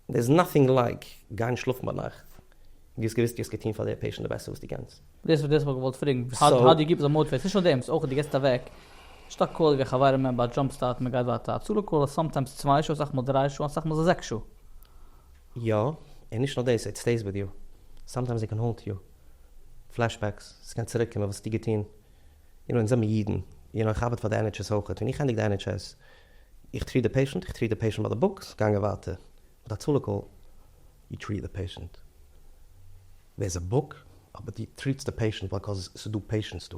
דער איז נאטינג לייק גיין שלאפן ביינאכט און דו האסט געוויסט דו האסט געטון פאר די פעישענט די בעסטע וואס דו קענסט. דאס איז וואס איך האב געוואלט פרעגן, האו דו יו קיפ אס מאוטיוועטעד, נישט נאר דעם, ס'איז אויך דו געסט אוועק, שטאק קאל ווי א חברה מעמבער, א דזשאמפ סטארט, מ'גייט ווייטער, א צלו קאל איז סאמטיימס צוויי שעה, אסאך מאל דריי שעה, און אסאך מאל איז עס זעקס שעה. יא, און נישט נאר דאס, איט סטעיס וויט יו. סאמטיימס איט קען האונט יו. פלעשבעקס, ס'קען צוריק קומען, וואס האסטו געטון? יו נאו, אונז זעמיר אידן, יו נאו, איך ארבעט פאר די ען עיטש עס אויכעט, און איך ענדיג די ען עיטש עס, איך טריעט די פעישענט, איך טריעט די פעישענט ביי די בוק, ס'גאנגען ווייטער מיט א צלה קאל, יו טריעט די פעישענט, דעירס א בוק, אבער דו טריעטסט די פעישענט, ביקאוז ס'דא פעישענטס דא.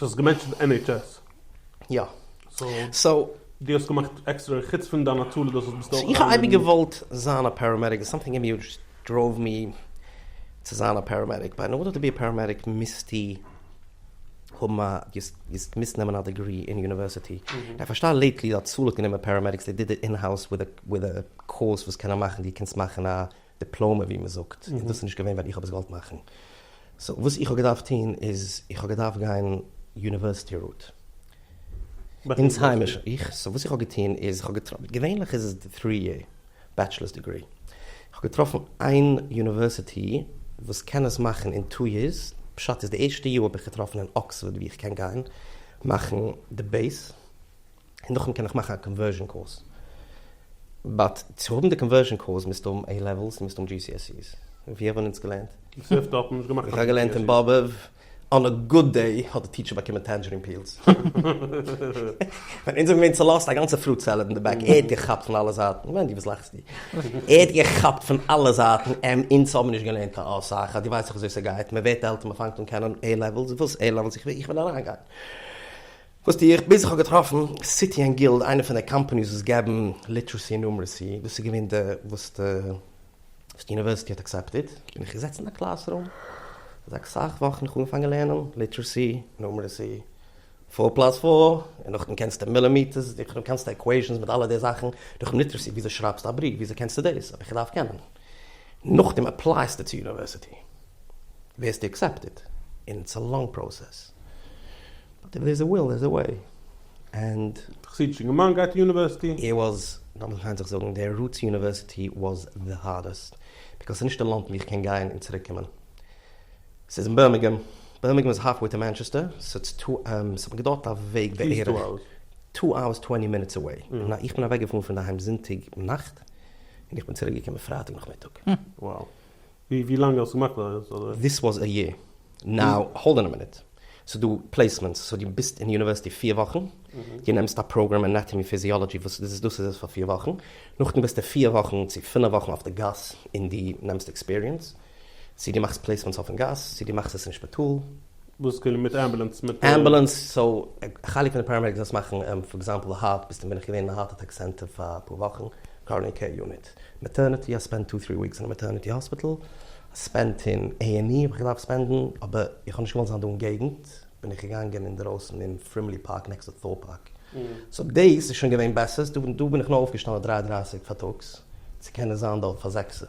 דו האסט געמענטשענט NHS. יא. סאו. דו האסט געמאכט עקסטערע חוץ פון דיין הצלה דאס וואס ביסט אויך. איך האב אייביג געוואלט זיין א פעראמעדיק סאמטינג אין מיר דזשאסט דראוו מי צו זיין א פעראמעדיק באט אין ארדער טו בי א פעראמעדיק מיזטו האבן א געסט געמוזט נעמען א דעגרי אין יוניווערסיטי איך פארשטיי לעיטלי האט הצלה גענומען פעראמעדיקס דעי דיד איט אין האוז וויט א קאורס וואס קענען מאכן דו קענסט מאכן א. דיפלאמע ווי מען זאגט, און דאס איז נישט געווען ווען איך האב עס געוואלט מאכן, סאו וואס איך האב געדארפט טון איז איך האב געדארפט גיין יוניווערסיטי רוט, אונז היימישע, איך, סאו וואס איך האב געטון איז איך האב געטראפן, געווענליך איז עס די טרי יער בעטשלערס דעגרי, איך האב געטראפן איין יוניווערסיטי וואס קען עס מאכן אין טו יערס, פשט איז די ערשטע יאר האב איך געטראפן אין אקספארד ווי איך קען גיין מאכן די בעיס, און נאכדעם קען איך מאכן א קאנווערזשען קורס. באט צו האבן די קאנווערזשען קורס מוזטו האבן עי לעוועלס און מוזט האבן GCSEs. ווי האבן אונז געלערנט? איך זע אפט אפן נישט געמאכט קיין GCSEs. איך האב געלערנט אין באבוב, אן א גוד דעי האט די טיטשער באקומען טענדזשערין פיעלס. ווען אונז זענען געווען צולאזט א גאנצע פרוט סעלעד אין די בעק, ער האט געכאפט פון אלע זייטן, מענדי וואס לאכסטו? ער האט געכאפט פון אלע זייטן, עמ' אונז האבן נישט געלערנט קיין אסאך, אז דו ווייסט דאך וויאזוי ס'גייט, מ'ווערט עלטער מ'פאנגט אן קענען עי לעוועלס, וואס עי לעוועלס? איך וויל אריינגיין. וואס טו איך? ביז איך האב געטראפן סיטי ענד גילד, איינע פון די קאמפאניס וואס געבן ליטערעסי און נומערעסי, דאס איז געווען די וואס די יוניווערסיטי האט אקסעפטעד, בין איך געזעצן אין א קלאס רום אזא אסאך וואכן, איך האב אנגעפאנגען לערנען ליטערעסי, נומערעסי, פאר פלאס פאר, און נאכדעם קענסטו מילימעטערס, נאכדעם קענסטו עקוועישאנס מיט אלע די זאכן, נאכדעם ליטערעסי וויאזוי שרייבסטו א בריוו, וויאזוי קענסטו דאס, האב איך געדארפט קענען, נאכדעם עפלייסטו צו יוניווערסיטי, ווערסטו עקסעפטעד, און איטס א לאנג פראסעס. אבער ווער ס'וויל איז דער וועי ענד. די חסידישע געמיינדע גייט אין יוניווערסיטי. ער וואס, לאמיר פיין זיך זאגן, דער רוט צו יוניווערסיטי וואס די הארדעסט, ביקאויז ס'איז נישט די לאנד ווי איך קען גיין און צוריק קומען. ס'איז אין בירמינגהעם, בירמינגהעם איז האלפוועי טו מאנטשעסטער, ס'איז טו אווערס, ס'האט מיר געדויערט א וועג בערך טו אווערס טווענטי מינוטס אוועי, און איך בין אוועקגעפארן פון דערהיים זונטאג נאכט, און איך בין צוריק געקומען פרייטאג נאכמיטאג. ווי לאנג האסטו געמאכט אזוי? דיס וואס א יער. נאו האלד אן א מינוט. ס'איז דא פלעיסמענטס, סאו דו ביסט אין יוניווערסיטי פֿיר וואכן, דו נעמסט א פראגראם אנאטאמי פיזיאלאדזשי וואס דאס איז דאס איז עס פאר פֿיר וואכן, נאכדעם ביסטו פֿיר וואכן צו פֿינף וואכן אויף די גאס און דו נעמסט עקספיריענס, צו דו מאכסט פלעיסמענטס אויפן גאס, צו דו מאכסט עס אין שפיטאל. וואס כאילו מיט אמבולאנס מיט. אמבולאנס, סאו א חלק פון די פאראמעדיקס וואס מאכן, פאר עקזעמפל הארט, ביסטו בין איך געווען אין א הארט אטעק סענטער פאר אפאר וואכן, קארנעי קעיר יוניט. מעטערניטי, א ספענד טו טרי וויקס אין א מעטערניטי האספיטעל, א ספענד אין עי ענד אי האב איך געדארפט ספענדן, אבער איך האב נישט געוואלט זיין דא אין געגנט, בין איך געגאנגען אינדערויסן אין פרימלי פארק נעקסט צו טאל פארק, סאו דעיס איז שוין געווען בעסער, דא בין איך נאר אויפגעשטאנען דרײַ און דרײַסיק פארטאגס צו קענען זיין דארט פאר זעקסער.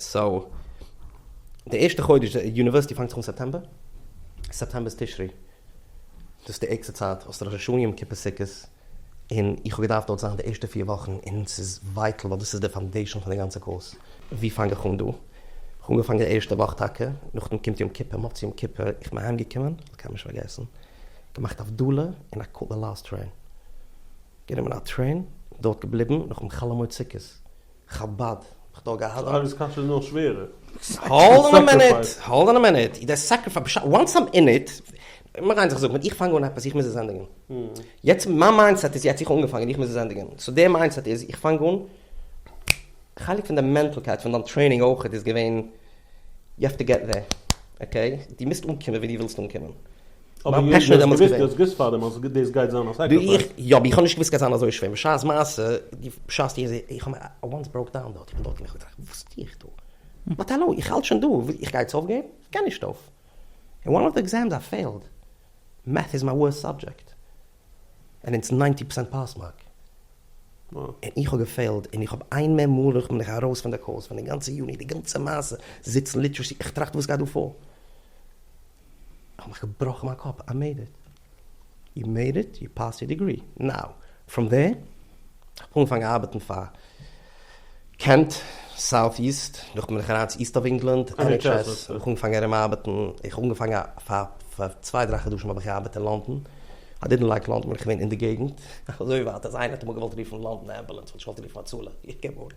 סאו די ערשטע חודש, די יוניווערסיטי פאנגט זיך אן סעפטעמבער, סעפטעמבער איז תשרי, דאס איז די ערגסטע צייט, האסט ראש השנה יום כיפור סוכות, און איך האב געדארפט דארט זיין די ערשטע פיר וואכן, און ס'איז ווייטל ווייל דאס איז די פאנדעישאן פון די גאנצע קורס, ווי פאנג איך אן דא? כ'האב אנגעפאנגען די ערשטע וואך טאקע, נאכדעם קומט יום כיפור, מוצאי יום כיפור איך בין אהיים געקומען, קיינמאל נישט פארגעסן, געמאכט הבדלה און א קאוט די לאסט טרעין, גענומען א טרעין, דארט געבליבן, נאכדעם חאלעמויד סוכות. חבד האט דאך געהאט. די ארבעטס קאטשען נאר שווערע. האלד אן א מינוט, האלד אן א מינוט, איז דער סעקריפייס בשעת, וואנס איים אין איט, מיר גייען זיך זאגן, איך פאנג אן עפעס, איך מוז עס ענדיגן. יעצט מיין מיינדסעט איז יעצט איך האב אנגעפאנגען, איך מוז עס ענדיגן. סאו דער מיינדסעט איז, איך פאנג אן, חלק פון די מענטלקייט פון דיין טרעינינג אויך איז געווען, יו העוו טו געט דער, אקעי? דו מוזט אנקומען ווי דו ווילסט אנקומען. אבער ווי האסט דאס געוויסט? דו האסט געוויסט פארדעם אז דאס גייט זיין א סעקריפייס? יא, אבער איך האב נישט געוויסט ס'גייט זיין אזוי שווער, בשעת מעשה, בשעת איך זעה, איך האב מיר אוואנס בראוק דאון דארט, איך בין דארט און איך האב געטראכט, וואס טו איך דא? באט האלא, איך האלט שוין דא, איך גיי יעצט אויפגעבן? איך גיי נישט אויף. אין וואן אוו די עקזעמס איי פעילד, מעטס איז מיין ווארסט סאבדזשעקט, און אונז ניינטי פארסענט פאס מארק, און איך האב געפעילד, און איך האב איין מער מאל און איך בין מיך ארויס פון די קורס, פון די גאנצע יוניט, די גאנצע מעשה, זיצן ליטערעסי, איך טראכט וואס גייט דא פאר? כ'האב מיך געבראכן מיין קאפ, איי מעיד איט! יו מעיד איט, יו פאסט יור דעגרי, נאו! פראם דער כ'האב אנגעפאנגען ארבעטן פאר קענט, סאוט איסט, דורך בין איך אריין צו איסט אוו ענגלאנד, ען עיטש עס, האב איך אנגעפאנגען ארום ארבעטן, איך האב אנגעפאנגען פאר פאר צוויי דריי חדשים האב איך געארבעט אין לאנדאן, איי דידנט לייק לאנדאן ווייל איך וואין אין די געגנט, און אזוי ווייטער, אז איינער האט אמאל געוואלט רופן לאנדאן אמבולאנס וואלט איך געוואלט רופן הצלה, איך געב אן.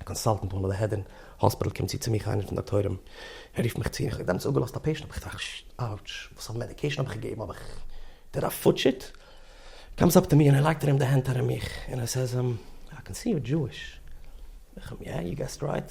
א קאנסאלטענט פון די העדערן האספיטעל קומט צו צו מיך איינער פון דאקטוירים ער רופט מיך צו איך האב דעמאלטס אפגעלאזט א פעישענט האב איך געטראכט אאוטש וואס פאר מעדיקעישן האב איך געגעבן האב איך דיר א פארטשעט קאמס אפ טו מי און ער לייגט ארום די הענט ארום מיך און ער סעיז אים איי קען סי יור דזשואיש איך אים יא יו געסט רייט.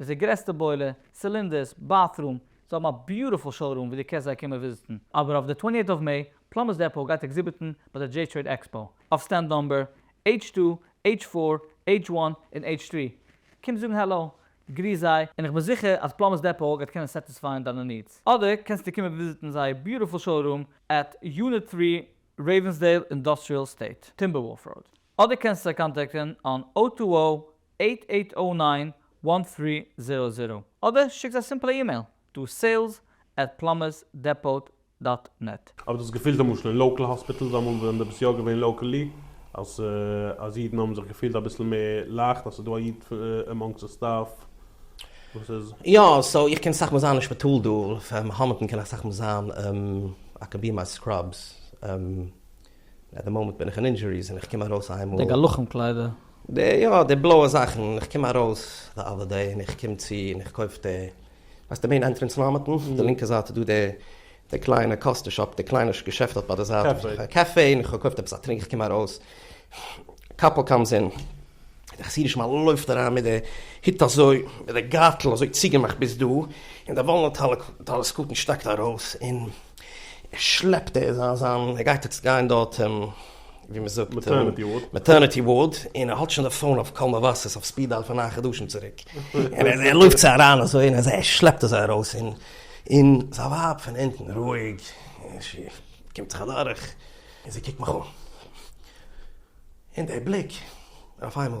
מיט די גרעסטע בוילער, סילינדערס, באטרום, זיי האבן א ביוטיפול שאו רום ווי דו קענסט זיי קומען וויזיטן. אבער אויף די טווענטי עיט אוו מעי, פלאמבערס דעפאו גייט עקזיביטן ביי די דזשעי טרעיד עקספאו, אויף סטענד נומבער, עיטש טו, עיטש פאר, עיטש וואן, און עיטש טרי. קום זאגן העלא, גריס זיי, און איך בין זיכער אז פלאמבערס דעפאו גייט קענען סעטיספייען דיינע נידס. אדער קענסטו קומען וויזיטן זייער ביוטיפול שאו רום עט יוניט טרי רעיווענסדעיל אינדוסטריעל עסטעיט, טימבערוואלף ראוד. אדער קענסטו זיי קאנטעקטן אן או טו או עיט עיט או ניין וואן טרי זירא זירא אדער שיקטס א סימפלע אימעיל טו סעילס עט פלאמערס דעפאוט דאט נעט. האב איך דאס געפילט למשל אין לאקעל האספיטעלס אמאל ווען די ביסט יא געווען לאקעלי אז אז אידן האבן זיך געפילט אביסל מער לייכט אז ס'איז דא א איד עמאנגסט די סטאף וואס איז. יא סאו איך קען אסאך מאל זיין אין שפיטאל דא, פאר מאהמענטן קען איך אסאך מאל זיין אקעבי מיי סקראבס. אט די מאמענט בין איך אין אינדזשוריס און איך קום ארויס איינמאל. די גלחים קליידער. די יא די בלויע זאכן און איך קום ארויס די אדער דעי און איך קום צו און איך קויף די ווייסט די מעין ענטרענס מאמענטן די לינקע זייט איז דא די די קליינע קאסטע שאפ די קליינע געשעפט דארט ביי די זייט קעפי קעפי און איך האב געקויפט עפעס א טרינק איך קום ארויס קאפל קאמס אין די חסידישע מאן לויפט אריין מיט די הוט אזוי מיט די גארטל אזוי צוגעמאכט ביז דא און די וואלנוט טעלעסקאוט און שטאקט ארויס און. שלעפט ער זיין זיין ער גייט יעצט גיין דארט אין ווי מען זאגט מעטערניטי ווארד מעטערניטי ווארד און ער האט שוין די פאון אויף קול מבשר אויף ספיד דייל פון נײַן חדשים צוריק און ער לויפט צו אריין אזוי און ער שלעפט אזוי ארויס און און זיין ווייב פון אונטן רואיג זי קומט זיך אדורך און זי קוקט מיך אן און דער בליק אויף איינמאל.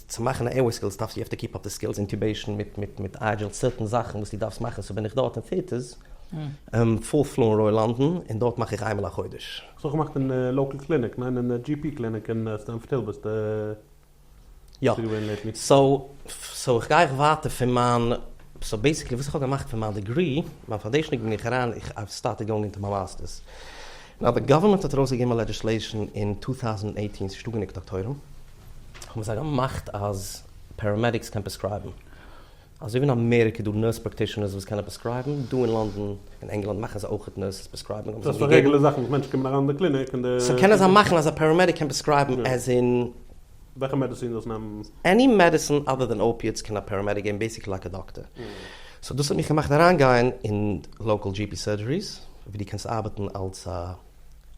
צו מאכן א עירוויי סקילס דארפסטו יו העוו טו קיפ אפ די סקילס, אינטובעישן מיט מיט מיט איידזשעל, סירטען זאכן וואס דו דארפסט מאכן, סאו בין איך דארט אין פירטערס, פול פלו אין רויעל לאנדאן, און דארט מאך איך איינמאל א חודש. האסט אויך געמאכט אין לאקעל קליניק, ניין? אין די GP קליניק אין סטעמפארד היל ביסטו יא געווען לעיטלי. סאו סאו איך גיי איך ווייטער פון מיין, סאו בעסיקלי וואס איך האב געמאכט פון מיין דעגרי, מיין פאנדעישן דעגרי בין איך אריין, איך האב סטארטעד גאוינג אינטו מיין מאסטערס, נאו די גאווערמענט האט ארויסגעגעבן א לעדזיסלעישן אין צוויי טויזנט עיטין צו שטאפן דוקטורים, האבן זיי געמאכט אז פעראמעדיקס קען פרעסקרייבן. אזוי ווי אין אמעריקע איז דא נורס פראקטישענערס וואס קענען פרעסקרייבן, דא אין לאנדאן און ענגלאנד מאכן זיי אויך נורסעס פרעסקרייבן האבן זיי געגעבן. דאס איז א רעגולער זאך וואס מענטשן קומען אריין אין די קליניק און די. סאו קענען זיי מאכן אז א פעראמעדיק קען פרעסקרייבן עז אין. וועלכע מעדעצין דאס נעמען. עני מעדעצין אדער דען אופיעטס קען א פעראמעדיק געבן בעיסיקלי לייק א דאקטער. סאו דאס האט מיך געמאכט אריינגיין אין לאקאל דזשי פי סורדזשעריס ווי דו קענסט ארבעטן אלס א.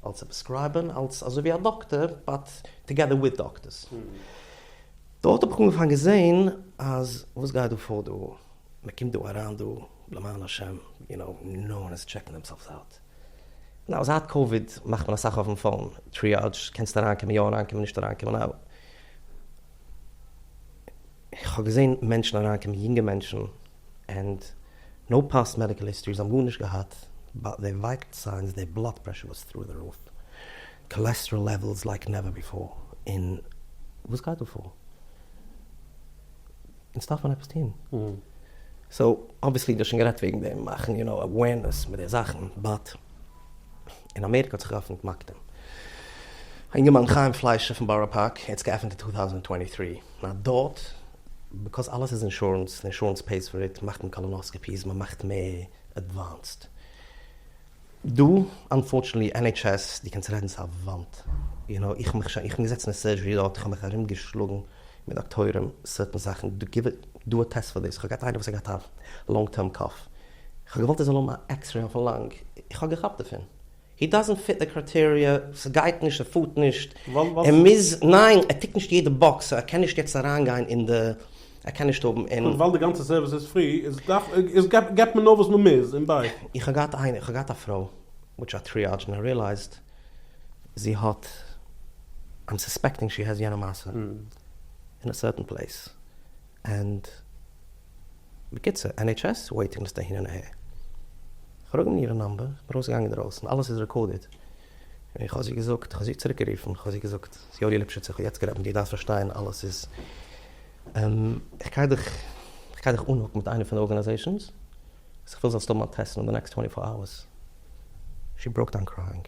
אלס א פרעסקרייבער, אלס אזוי ווי א דאקטער, באט טאגעדער וויט דאקטערס. דארט האב איך אנגעפאנגען געזעהן אז וואס גייט דא פאר דא, מען קומט דא אריין דא למען השם, יו נאו, נאו וואן איז טשעקינג דעם סעלפס אוט. נאו, זייט קאוויד מאכט מען אסאך אויפן פאון, טריאדזש, קענסט אריינקומען יא אריינקומען נישט אריינקומען נאו. איך האב געזעהן מענטשן אריינקומען, יונגע מענטשן. ענד נאו פאסט מעדיקעל היסטארי, זיי האבן גארנישט געהאט באט דער ווייטעל סיינס, דער בלאד פרעשור וואס טרו די רוף, קאלעסטראל לעוועלס לייק נעווער ביפאר, און וואס גייט דא פאר? אונז דארף מען עפעס טון. סאו אבוויעסלי דו האסט שוין גערעדט וועגן דעם מאכן יו נאו אווערנעס מיט די זאכן, באט אין אמעריקע האט זיך געעפנט מקדים, א אינגערמאן חיים פליישער פון בארא פארק, ער האט עס געעפנט אין צוויי טויזנט טווענטי טרי, א דאט ביקאוז אלעס איז אינשורענס, אינשורענס פעיס פאר איט, מאכט מען קאלאנאסקעפיס, מען מאכט מער עדוואנסד. דא אנפארטשענעטלי ען עיטש עס, דו קענסט רעדן צו א וואנט, יו נאו, איך מיך שוין, איך בין געזעצן אין סורזשערי דארט, איך האב מיך ארום געשלאגן מיט דאקטוירים, סערטען זאכן, דא גיב דא א טעסט פאר דאס, איך האב געהאט איינער וואס האט געהאט א לאנג טערם קאף, איך האב געוואלט ער זאל האבן א עקסרעי אויפן לאנג, איך האב געכאפט דערפון. הי דאזענט פיט די קרייטעריע, ס'גייט נישט, ס'פארט נישט, ער מוז, ניין, ער טיקט נישט יעדע באקס, סאו ער קען נישט יעצט אריינגיין אין די, ער קען נישט האבן אין. און ווייל די גאנצע סערוויס איז פרי, איז דארף, איז געבט מען נאר וואס מען מוז, און ביי. איך האב געהאט איינער, איך האב געהאט א פרוי וויטש א טריאדזש און איך ריעלייזד זי האט, איים סוספעקטינג שי העז יענע מעשה אין א סערטען פלעיס. ענד בקיצור NHS וועיטינג ליסט אהין און אהער. כ'פרעג אים אירע נאמבער, איך בין ארויסגעגאנגען אינדרויסן, אלעס איז רעקארדעד, און איך האב זי געזאגט, כ'האב זי צוריק גערופן, כ'האב זי געזאגט, יואלי ליפשיץ איך האב יעצט גערעדט מיט דיר, דארפסט פארשטיין אלעס איז, איך גיי דיך, איך גיי דיך אנהוקן מיט איינע פון די ארגענעזעישאנס, וואס איך וויל זאלסט האבן א טעסט אין די נעקסט טווענטי פאר אווערס. שי בראוק דאון קרייאינג.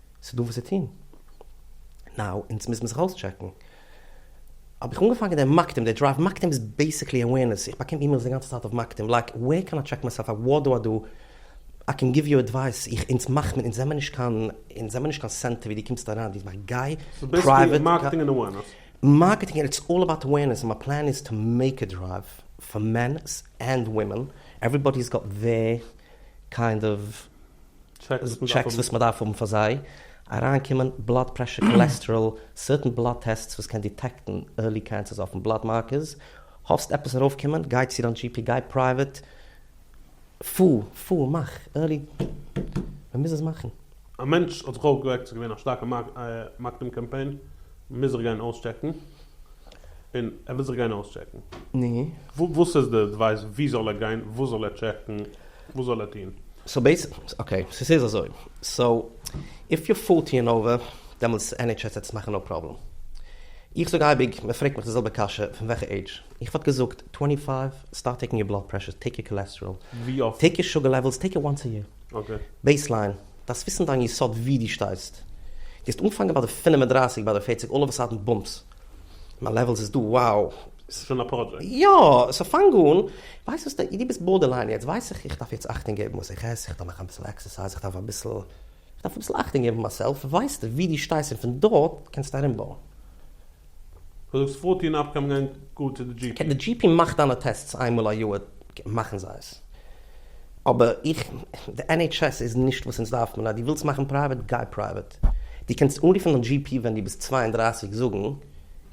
ס'איז דא וואס צו טון. נאו, אונז מוזן זיך אויסטשעקן. האב איך אנגעפאנגען דעם מקדים, דער דרייוו מקדים איז בעיסיקלי אווערנעס, איך באקום אימעילס די גאנצע צייט אויף מקדים, לייק ווער קען איי טשעק מיי סעלף, וואט דא אדא, איי קען גיוו יו עדווייס, איך אונז מאכט מען, אונז זעמער נישט קיין, אונז זעמער נישט קיין סענטער ווי דו קומסט אריין, דו מאכט גיי פרייוועט, מארקעטינג און אווערנעס, איטס אלל אבאוט אווערנעס, מיין פלאן איז טו מעיק א דרייוו פאר מענס ענד ווימען, עוועריבאדי האס גאט דעיר קיינד אוו טשעקס וואס מען דארף האבן פאר זיי אריינקומען, בלאד פרעשור, קאלעסטעראל, סערטען בלאד טעסטס וואס קען דיטעקטן ערלי קענסערס אויפן בלאד מארקערס, האפסט עפעס ארויפקומען, גיי צו דיין GP, גיי פרייוועט, פאר, פאר, מאך, ערלי, מען מוז עס מאכן. א מענטש האט זיך אויפגעוועקט, ס'איז געווען א שטארקע מארקעטינג קאמפיין, מען מוז זיך גיין אויסטשעקן, און ער וויל זיך גיין אויסטשעקן, וואס איז די עדווייס, וואו זאל ער גיין, וואס זאל ער טשעקן? וואס זאל ער טון? סאו בעיסיקלי, אקעי, ס'איז אזוי, סאו איף יו פארטי און אווער, דעמאלטס ען עיטש עס וועט עס מאכן נאו פראבלעם. איך זאג אייביג, מען פרעגט מיך די זעלבע קשיא, פון וועלכע עידזש? איך וואלט געזאגט, טווענטי פייוו, סטארט טעיקן יור בלאד פרעשור, טעיק יור קאלעסטעראל, ווי אפט? טעיק יור שוגער לעוועלס, טעיק עס וואנס א יער. אקעי. בעיסליין, דארפסט וויסן דיין יסוד ווי דו שטייסט. גייסט אנפאנגען ביי די פינעף און דרייסיג ביי די פערציג אלל אוו א סאדען בומפס מיין לעוועלס איז דא וואו. ס'איז שוין א פראדזשעקט. יא, סאו פאנג אן, ווייסט וואס, דו ביסט בארדערליין יעצט, ווייס איך, איך דארף יעצט אכטונג געבן וואס איך עס, איך דארף מאכן אביסל עקסערסייז, איך דארף אביסל, איך דארף אביסל אכטונג געבן אויף מיין סעלף, ווייסטו ווי דו שטייסט און פון דארט קענסטו ארומבויען. דו זאגסט פארט אן אפקום גיין גאר צו די דזשי פי. די דזשי פי מאכט דיינע טעסטס איינמאל א יאר, מאכן זיי עס. אבער איך, די ען עיטש עס איז נישט וואס אונז דארפן, און אז דו ווילסט מאכן פרייוועט, גיי פרייוועט. דו קענסט אנרופן דיין דזשי פי ווען דו ביסט צוויי און דרײַסיק זאגן,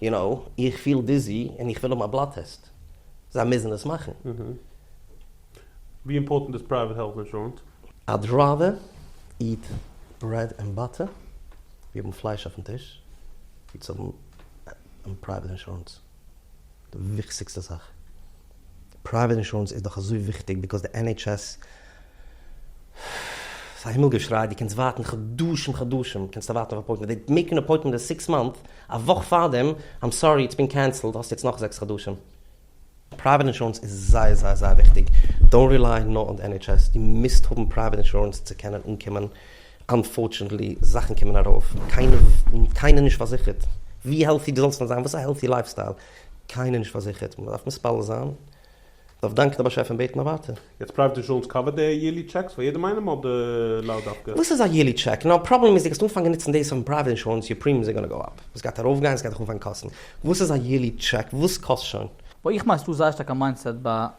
יו נאו, איך פיל דיזי און איך וויל האבן א בלאד טעסט. זיי מוזן עס מאכן. ווי אימפארטענט איז פרייוועט העלט אינשורענס? I'd rather eat bread and butter, ווי האבן פלייש אויפן טיש, ווי צו האבן פרייוועט אינשורענס. די וויכסיגסטע זאך. פרייוועט אינשורענס איז דאך אזוי וויכטיג ביקאוז די NHS ס'איז א הימל געשריי די קענסט ווארטן חדשים חדשים קענסטו ווארטן אויף אפוינטמענט די מעקן אן אפוינטמענט די סיקס מאנט א וואך פארדעם איים סארי איטס בין קענסעלד האסט יעצט נאך זעקס חדשים. פרייוועט אינשורענס איז זייער זייער זייער וויכטיג דאונט רילייען נאר אן די NHS די מיזט האבן פרייוועט אינשורענס צו קענען אנקומען. אנפארטשענעטלי, זאכן קומען ארויף, קיינער נישט פארזיכערט, ווי העלטי די זאלסט ווען זיין, וואס א העלטי לייף סטייל, קיינער נישט פארזיכערט, מען דארף מתפלל זיין, מען דארף דאנקען די באשעפער און בעטן א ווייטער. יעצט פרייוועט אינשורענס קאווערט די יערלי טשעקס פאר יעדעם איינעם אדער לאו דווקא? וואס איז א יערלי טשעק? נאו פראבלעם איז די גייסט אנפאנגען ניצן דאס אויפן פרייוועט אינשורענס יור פרימיומס אר גאנא גאו אפ, עס גייט ארויף גיין, עס גייט דיך אנפאנגען קאסטן, וואס איז א יערלי טשעק? וואס קאסט שוין? בה איך מיין ס'דא זייער שטארק א מיינדסעט ביי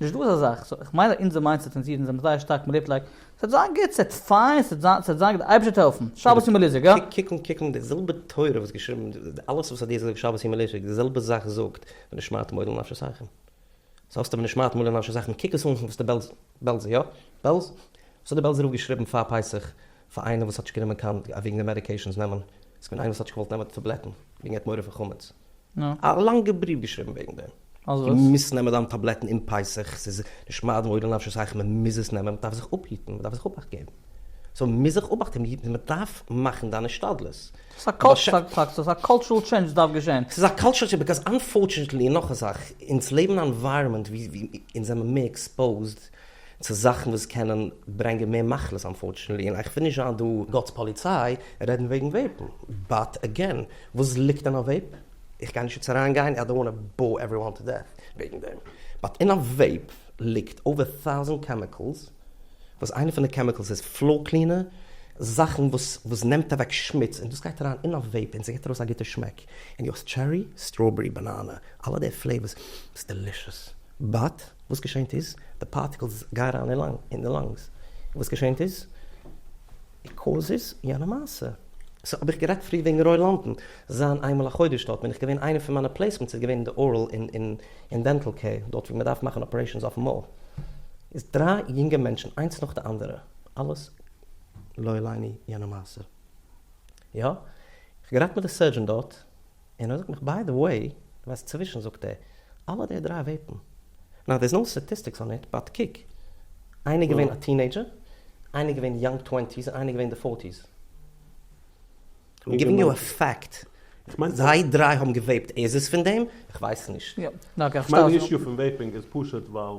נישט דא אזא זאך, סאו איך מיין אז אונזער מיינדסעט און זיך אונז זעמיר זייער שטארק מעניפלעיט, ס'וועט זיין גוט, ס'וועט פיין, ס'וועט זיין, ס'וועט זיין גוט, די אייבערשטער זאל העלפן, שבת יום אלישיב, גא. קוקן קוקן די זעלבע תורה וואס געשריבן אלעס וואס האט דיר געזאגט שבת יום אלישיב די זעלבע זאך זאגט ונשמרתם מאד לנפשות אייכם סאו האסטו ונשמרתם מאד לנפשות אייכם קוק עס אן פון וואס די בעלז בעלזער יא בעלז וואס האט די בעלזער רב געשריבן פאר פסח פאר איינער וואס האט נישט גענומען קיין וועגן די מעדיקעישאנס נעמען, איז פון איינער וואס האט נישט געוואלט נעמען די טאבלעטן וועגן ער האט מורא פון חמץ, א לאנגע בריוו געשריבן וועגן דעם. דו מוזט נעמען דיינע טאבלעטן אום פסח, ס'איז נשמע אדמו ר נפשי סייך מען מוז עס נעמען, מען דארף זיך אפהיטן, מען דארף זיך אבאכט געבן, סאו מען מוז זיך אבאכט געבן, מען דארף מאכן דיין השתדלות. ס'איז א קאלטשורעל טשענדזש וואס דארף געשען. ס'איז א קאלטשורעל טשענדזש ביקאוז אנפארטשענעטלי, און נאך א זאך, אונז לעבן אין א ענווייראמענט ווי אונז זעמער מער עקספאוזד, צו זאכן וואס קענען ברענגען מער מחלות אנפארטשענעטלי, און איך וויל נישט זיין דא גאטס פאליציי און רעדן וועגן וועיפן, באט עגעין וואס ליגט אין א וועיפ? איך גיי נישט יעצט אריין גיין, איי דאנט וואנט טו באור עוועריוואן טו דעט וועגן דעם, באט אין א וועיפ ליגט אויווער טאוזענט קעמיקעלס, וואס איינע פון די קעמיקעלס איז פלאר קלינער, זאכן וואס וואס נעמט אוועק שמוץ, און דאס גייט אריין אין א וועיפ און ס'געט ארויס א גוטע שמעק, און דו האסט טשערי, סטראבערי, באנאנע, אלע די פלעיווארס, ס'איז דעלישעס, באט. וואס געשענט איז, די פארטיקלס גיי אריין אין די לאנגס, און וואס געשענט איז, און קאוזעס יענע מעשה. סאו האב איך גערעדט פריער וועגן רוי לאנדאן, זיין איינמאל א חודש דארט, בין איך געווען איינע פון מיינע פלעיסמענטס איז געווען אין די ארעל און דענטעל קעיר, דארט ווי מען דארף מאכן אפערעישאנס אויפן מויל, איז דריי יונגע מענטשן איינס נאך די אנדערע, אלעס לא עליני יענע מעשה. יא, איך האב גערעדט מיט די סערדזשען דארט, און ער זאגט מיך ביי די וועי, דו ווייסט צווישן זאגט ער אלע די דריי וועיפן, נאו דעירס נאו סטאטיסטיקס אן איט באט קוק איינער איז געווען א טינעידזשער, איינער איז געווען יאנג טווענטיס און איינער איז געווען די פארטיס. איים גיווינג יו א פעקט, זיי דריי האבן געוועיפט, איז עס פון דעם? איך ווייס נישט. יא, נאר איך האב סתם. כ'מיין די אישו פון וועיפינג איז פשוט ווייל.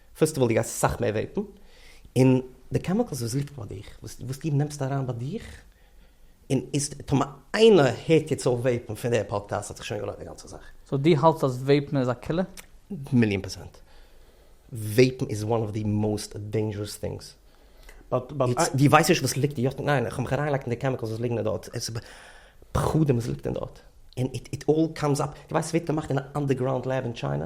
פעסטיוואל דו גייסט סאך מער וועיפן, און די קעמיקעלס וואס ליגט ביי דיך, וואס דו נעמסט אריין ביי דיך, און איז טאמער איינער הערט יעצט אויף וועיפן פון די פאדקעסט האט זיך שוין געלוינט די גאנצע זאך. סאו דו האלטסט אז וועיפן איז א קילער? מיליאן פערצענט. וועיפן איז וואן אוו די מאוסט דעינדזשערעס טינגס. דו ווייסט נישט וואס ליגט יא, ניין איך האב מיך אריינגעלייגט אין די קעמיקעלס וואס ליגן אין דארט, עס איז פחדים וואס ליגט אין דארט, און איט אלל קאמס אפ, דו ווייסט עס ווערט געמאכט אין א אנדערגראונד לעב אין טשיינע,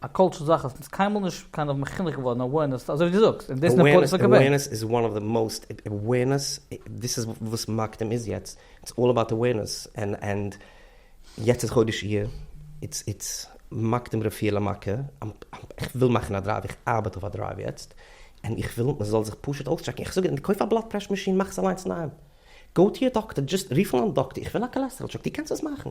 א קולטשע זאך אז ס'איז קיינמאל נישט קיינער האט מחונך געווארן אווערנעס אזוי ווי דו זאגסט און דאס איז נפוץ לגבי. אווערנעס איז וואן אוו די מאוסט אווערנעס דאס איז וואס מאקדים איז יעצט איטס אלל אבאוט אווערנעס ענד יעצט איז חודש אייר איטס איטס מאקדים רפואה למכה איך וויל מאכן א דרייוו איך ארבעט אויף א דרייוו יעצט און איך וויל מ'זאל זיך פשוט אויסטשעקן איך זאג קויף א בלאד פרעשור מאשין מאך עס אליינס אינדערהיים גאו טו יור דאקטער דזשאסט רוף אן דיין דאקטער איך וויל א קאלעסטעראל טשעק דו קענסט עס מאכן.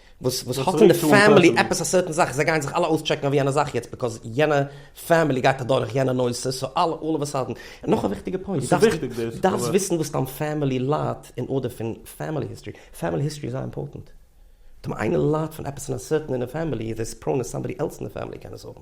וואס וואס האט אין די פעמילי עפעס א סערטען זאך, זיי גייען זיך אלע אויסטשעקן אויף יענע זאך יעצט ביקאוז יענע פעמילי גייט אדורך יענע נושא, סאו אלע אלל אוו א סאדען, און נאך א וויכטיגע פוינט, דו דארפסט דארפסט וויסן וואס דיין פעמילי ליידט אין ארדער פון פעמילי היסטארי, פעמילי היסטארי איז זייער אימפארטענט, טאמער איינער ליידט פון עפעס אין א סערטען אין די פעמילי איז עס פראון אז סאמבאדי עלס אין די פעמילי קען עס האבן.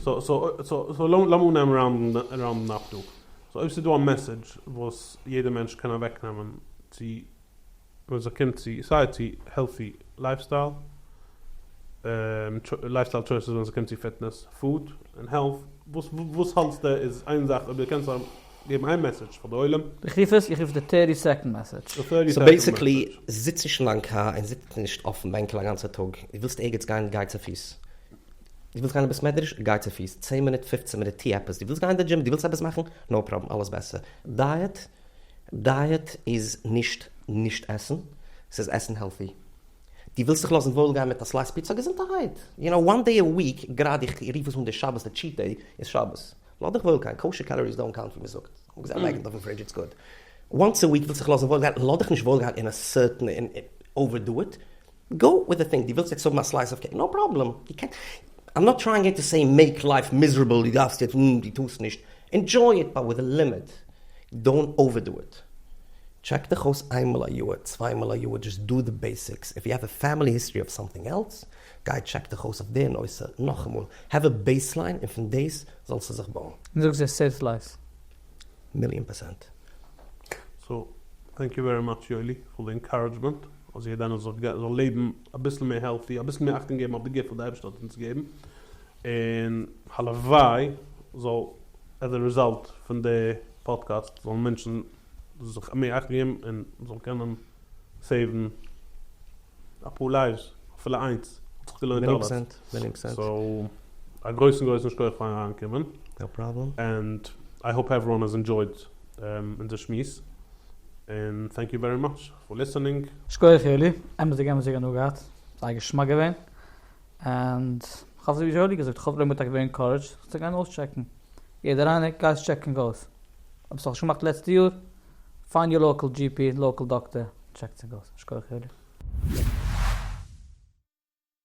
סאו לאמיר נעמען ראונדן אפ דא. סאו אויב ס'איז דא א מעסעדזש וואס יעדע מענטש קען אוועקנעמען צו ווען ס'קומט צו סיי צו העלטי לייפסטייל, לייפסטייל טשויסעס ווען ס'קומט צו פיטנעס, פוד און העלט, וואס וואס האלטסטו איז איין זאך אויב דו קענסט געבן איין מעסעדזש פאר די עולם? איך רוף עס, איך רוף עס די טערטי סעקאנד מעסעדזש. סאו בעיסיקלי, זיץ נישט אין דיין קאר און זיץ נישט אויפן בענקל א גאנצע טאג, דו ווילסט ערגעץ גיין, גיי צופיס. דו ווילסט גיין אין בית מדרש? גיי צופיס צען מינוט פופצען מינוט טו עפעס, דו ווילסט גיין אין די דזשים? דו ווילסט עפעס מאכן? נאו פראבלעם אלעס בעסער. דייעט? דייעט איז נישט נישט עסן, ס'איז עסן העלטי. דו ווילסט זיך לאזן וואויל גיין מיט א סלייס פיצא? געזונטערהייט! יו נאו וואן דעי א וויק, גראדע איך רוף עס אן די שבת די טשיט דעי, איז שבת. לאז דיך וואויל גיין, קאושער קאלאריס דאונט קאונט ווי מ'זאגט. אפגעזען לייג עס אויפן פרידזש איטס גוד. וואנס א וויק ווילסט זיך לאזן וואויל גיין, לאז דיך נישט וואויל גיין אין א סערטען און אווער דו איט. גאו וויט די פינג, די ווילסט יעצט האבן א סלייס אוו קעיק, נאו פראבלעם, די קענסט, איים נאט טרייאינג טו סעי מעיק לייף מיזערעבל, די דארפסט יעצט, און די טוסט נישט, ענדזשוי איט באט וויט א לימיט, דאונט אווערדו איט, טשעק דיך אויס איינמאל א יאר, צוויי מאל א יאר, דזשאסט דא די בעסיקס, איף יו האוו א פעמילי היסטארי אוו סאמטינג עלס, גיי טשעק דיך אויס אויף די נושא נאכאמאל, האוו א בעיסליין און פון דעיס זאלסטו זיך בויען. און זאג זיי סעיוו לייפס. מיליאן פערסענט. סאו טענק יו ווערי מאטש יואלי פאר די אינקארעדזשמענט אז יעדע איינער זאל זיך זאל לעבן אביסל מער העלטי אביסל מער אכטונג געבן אויף די גיפט וואס די אייבערשטער האט אונז געבן און הלוואי זאל עז א רעזאלט פון די פאדקעסט זאלן מענטשן זיך מער אכטונג געבן און זאלן קענען סעיוון אפאר לייז, אפילו איינס, האט זיך געלוינט אלעס. מנין פסנט, מנין פסנט. סאו, א גרויסן גרויסן שכוח פארן אריינקומען. נאו פראבלעם. ענד איי האופ עווערוואן האס ענדשויד אונזער שמועס, און טענק יו ווערי מאטש פאר ליסענינג. שקויעך יואלי, אמת'דיג אמת'דיג הנאה געהאט, זייער געשמאק געווען, ענד כ'האף אזויווי יואלי געזאגט, כ'האף די לוי' מ'וועט טאקע ווערן ענקארעדזשד זיך צו גיין אויסטשעקן, יעדער איינער גייט עס טשעקן אויס, אויב ס'האט נישט געמאכט לעצטע יאר. פיינד יור לאקעל דזשי פי, לאקעל דאקטער, טשעק צו גאס. שקויעך יואלי.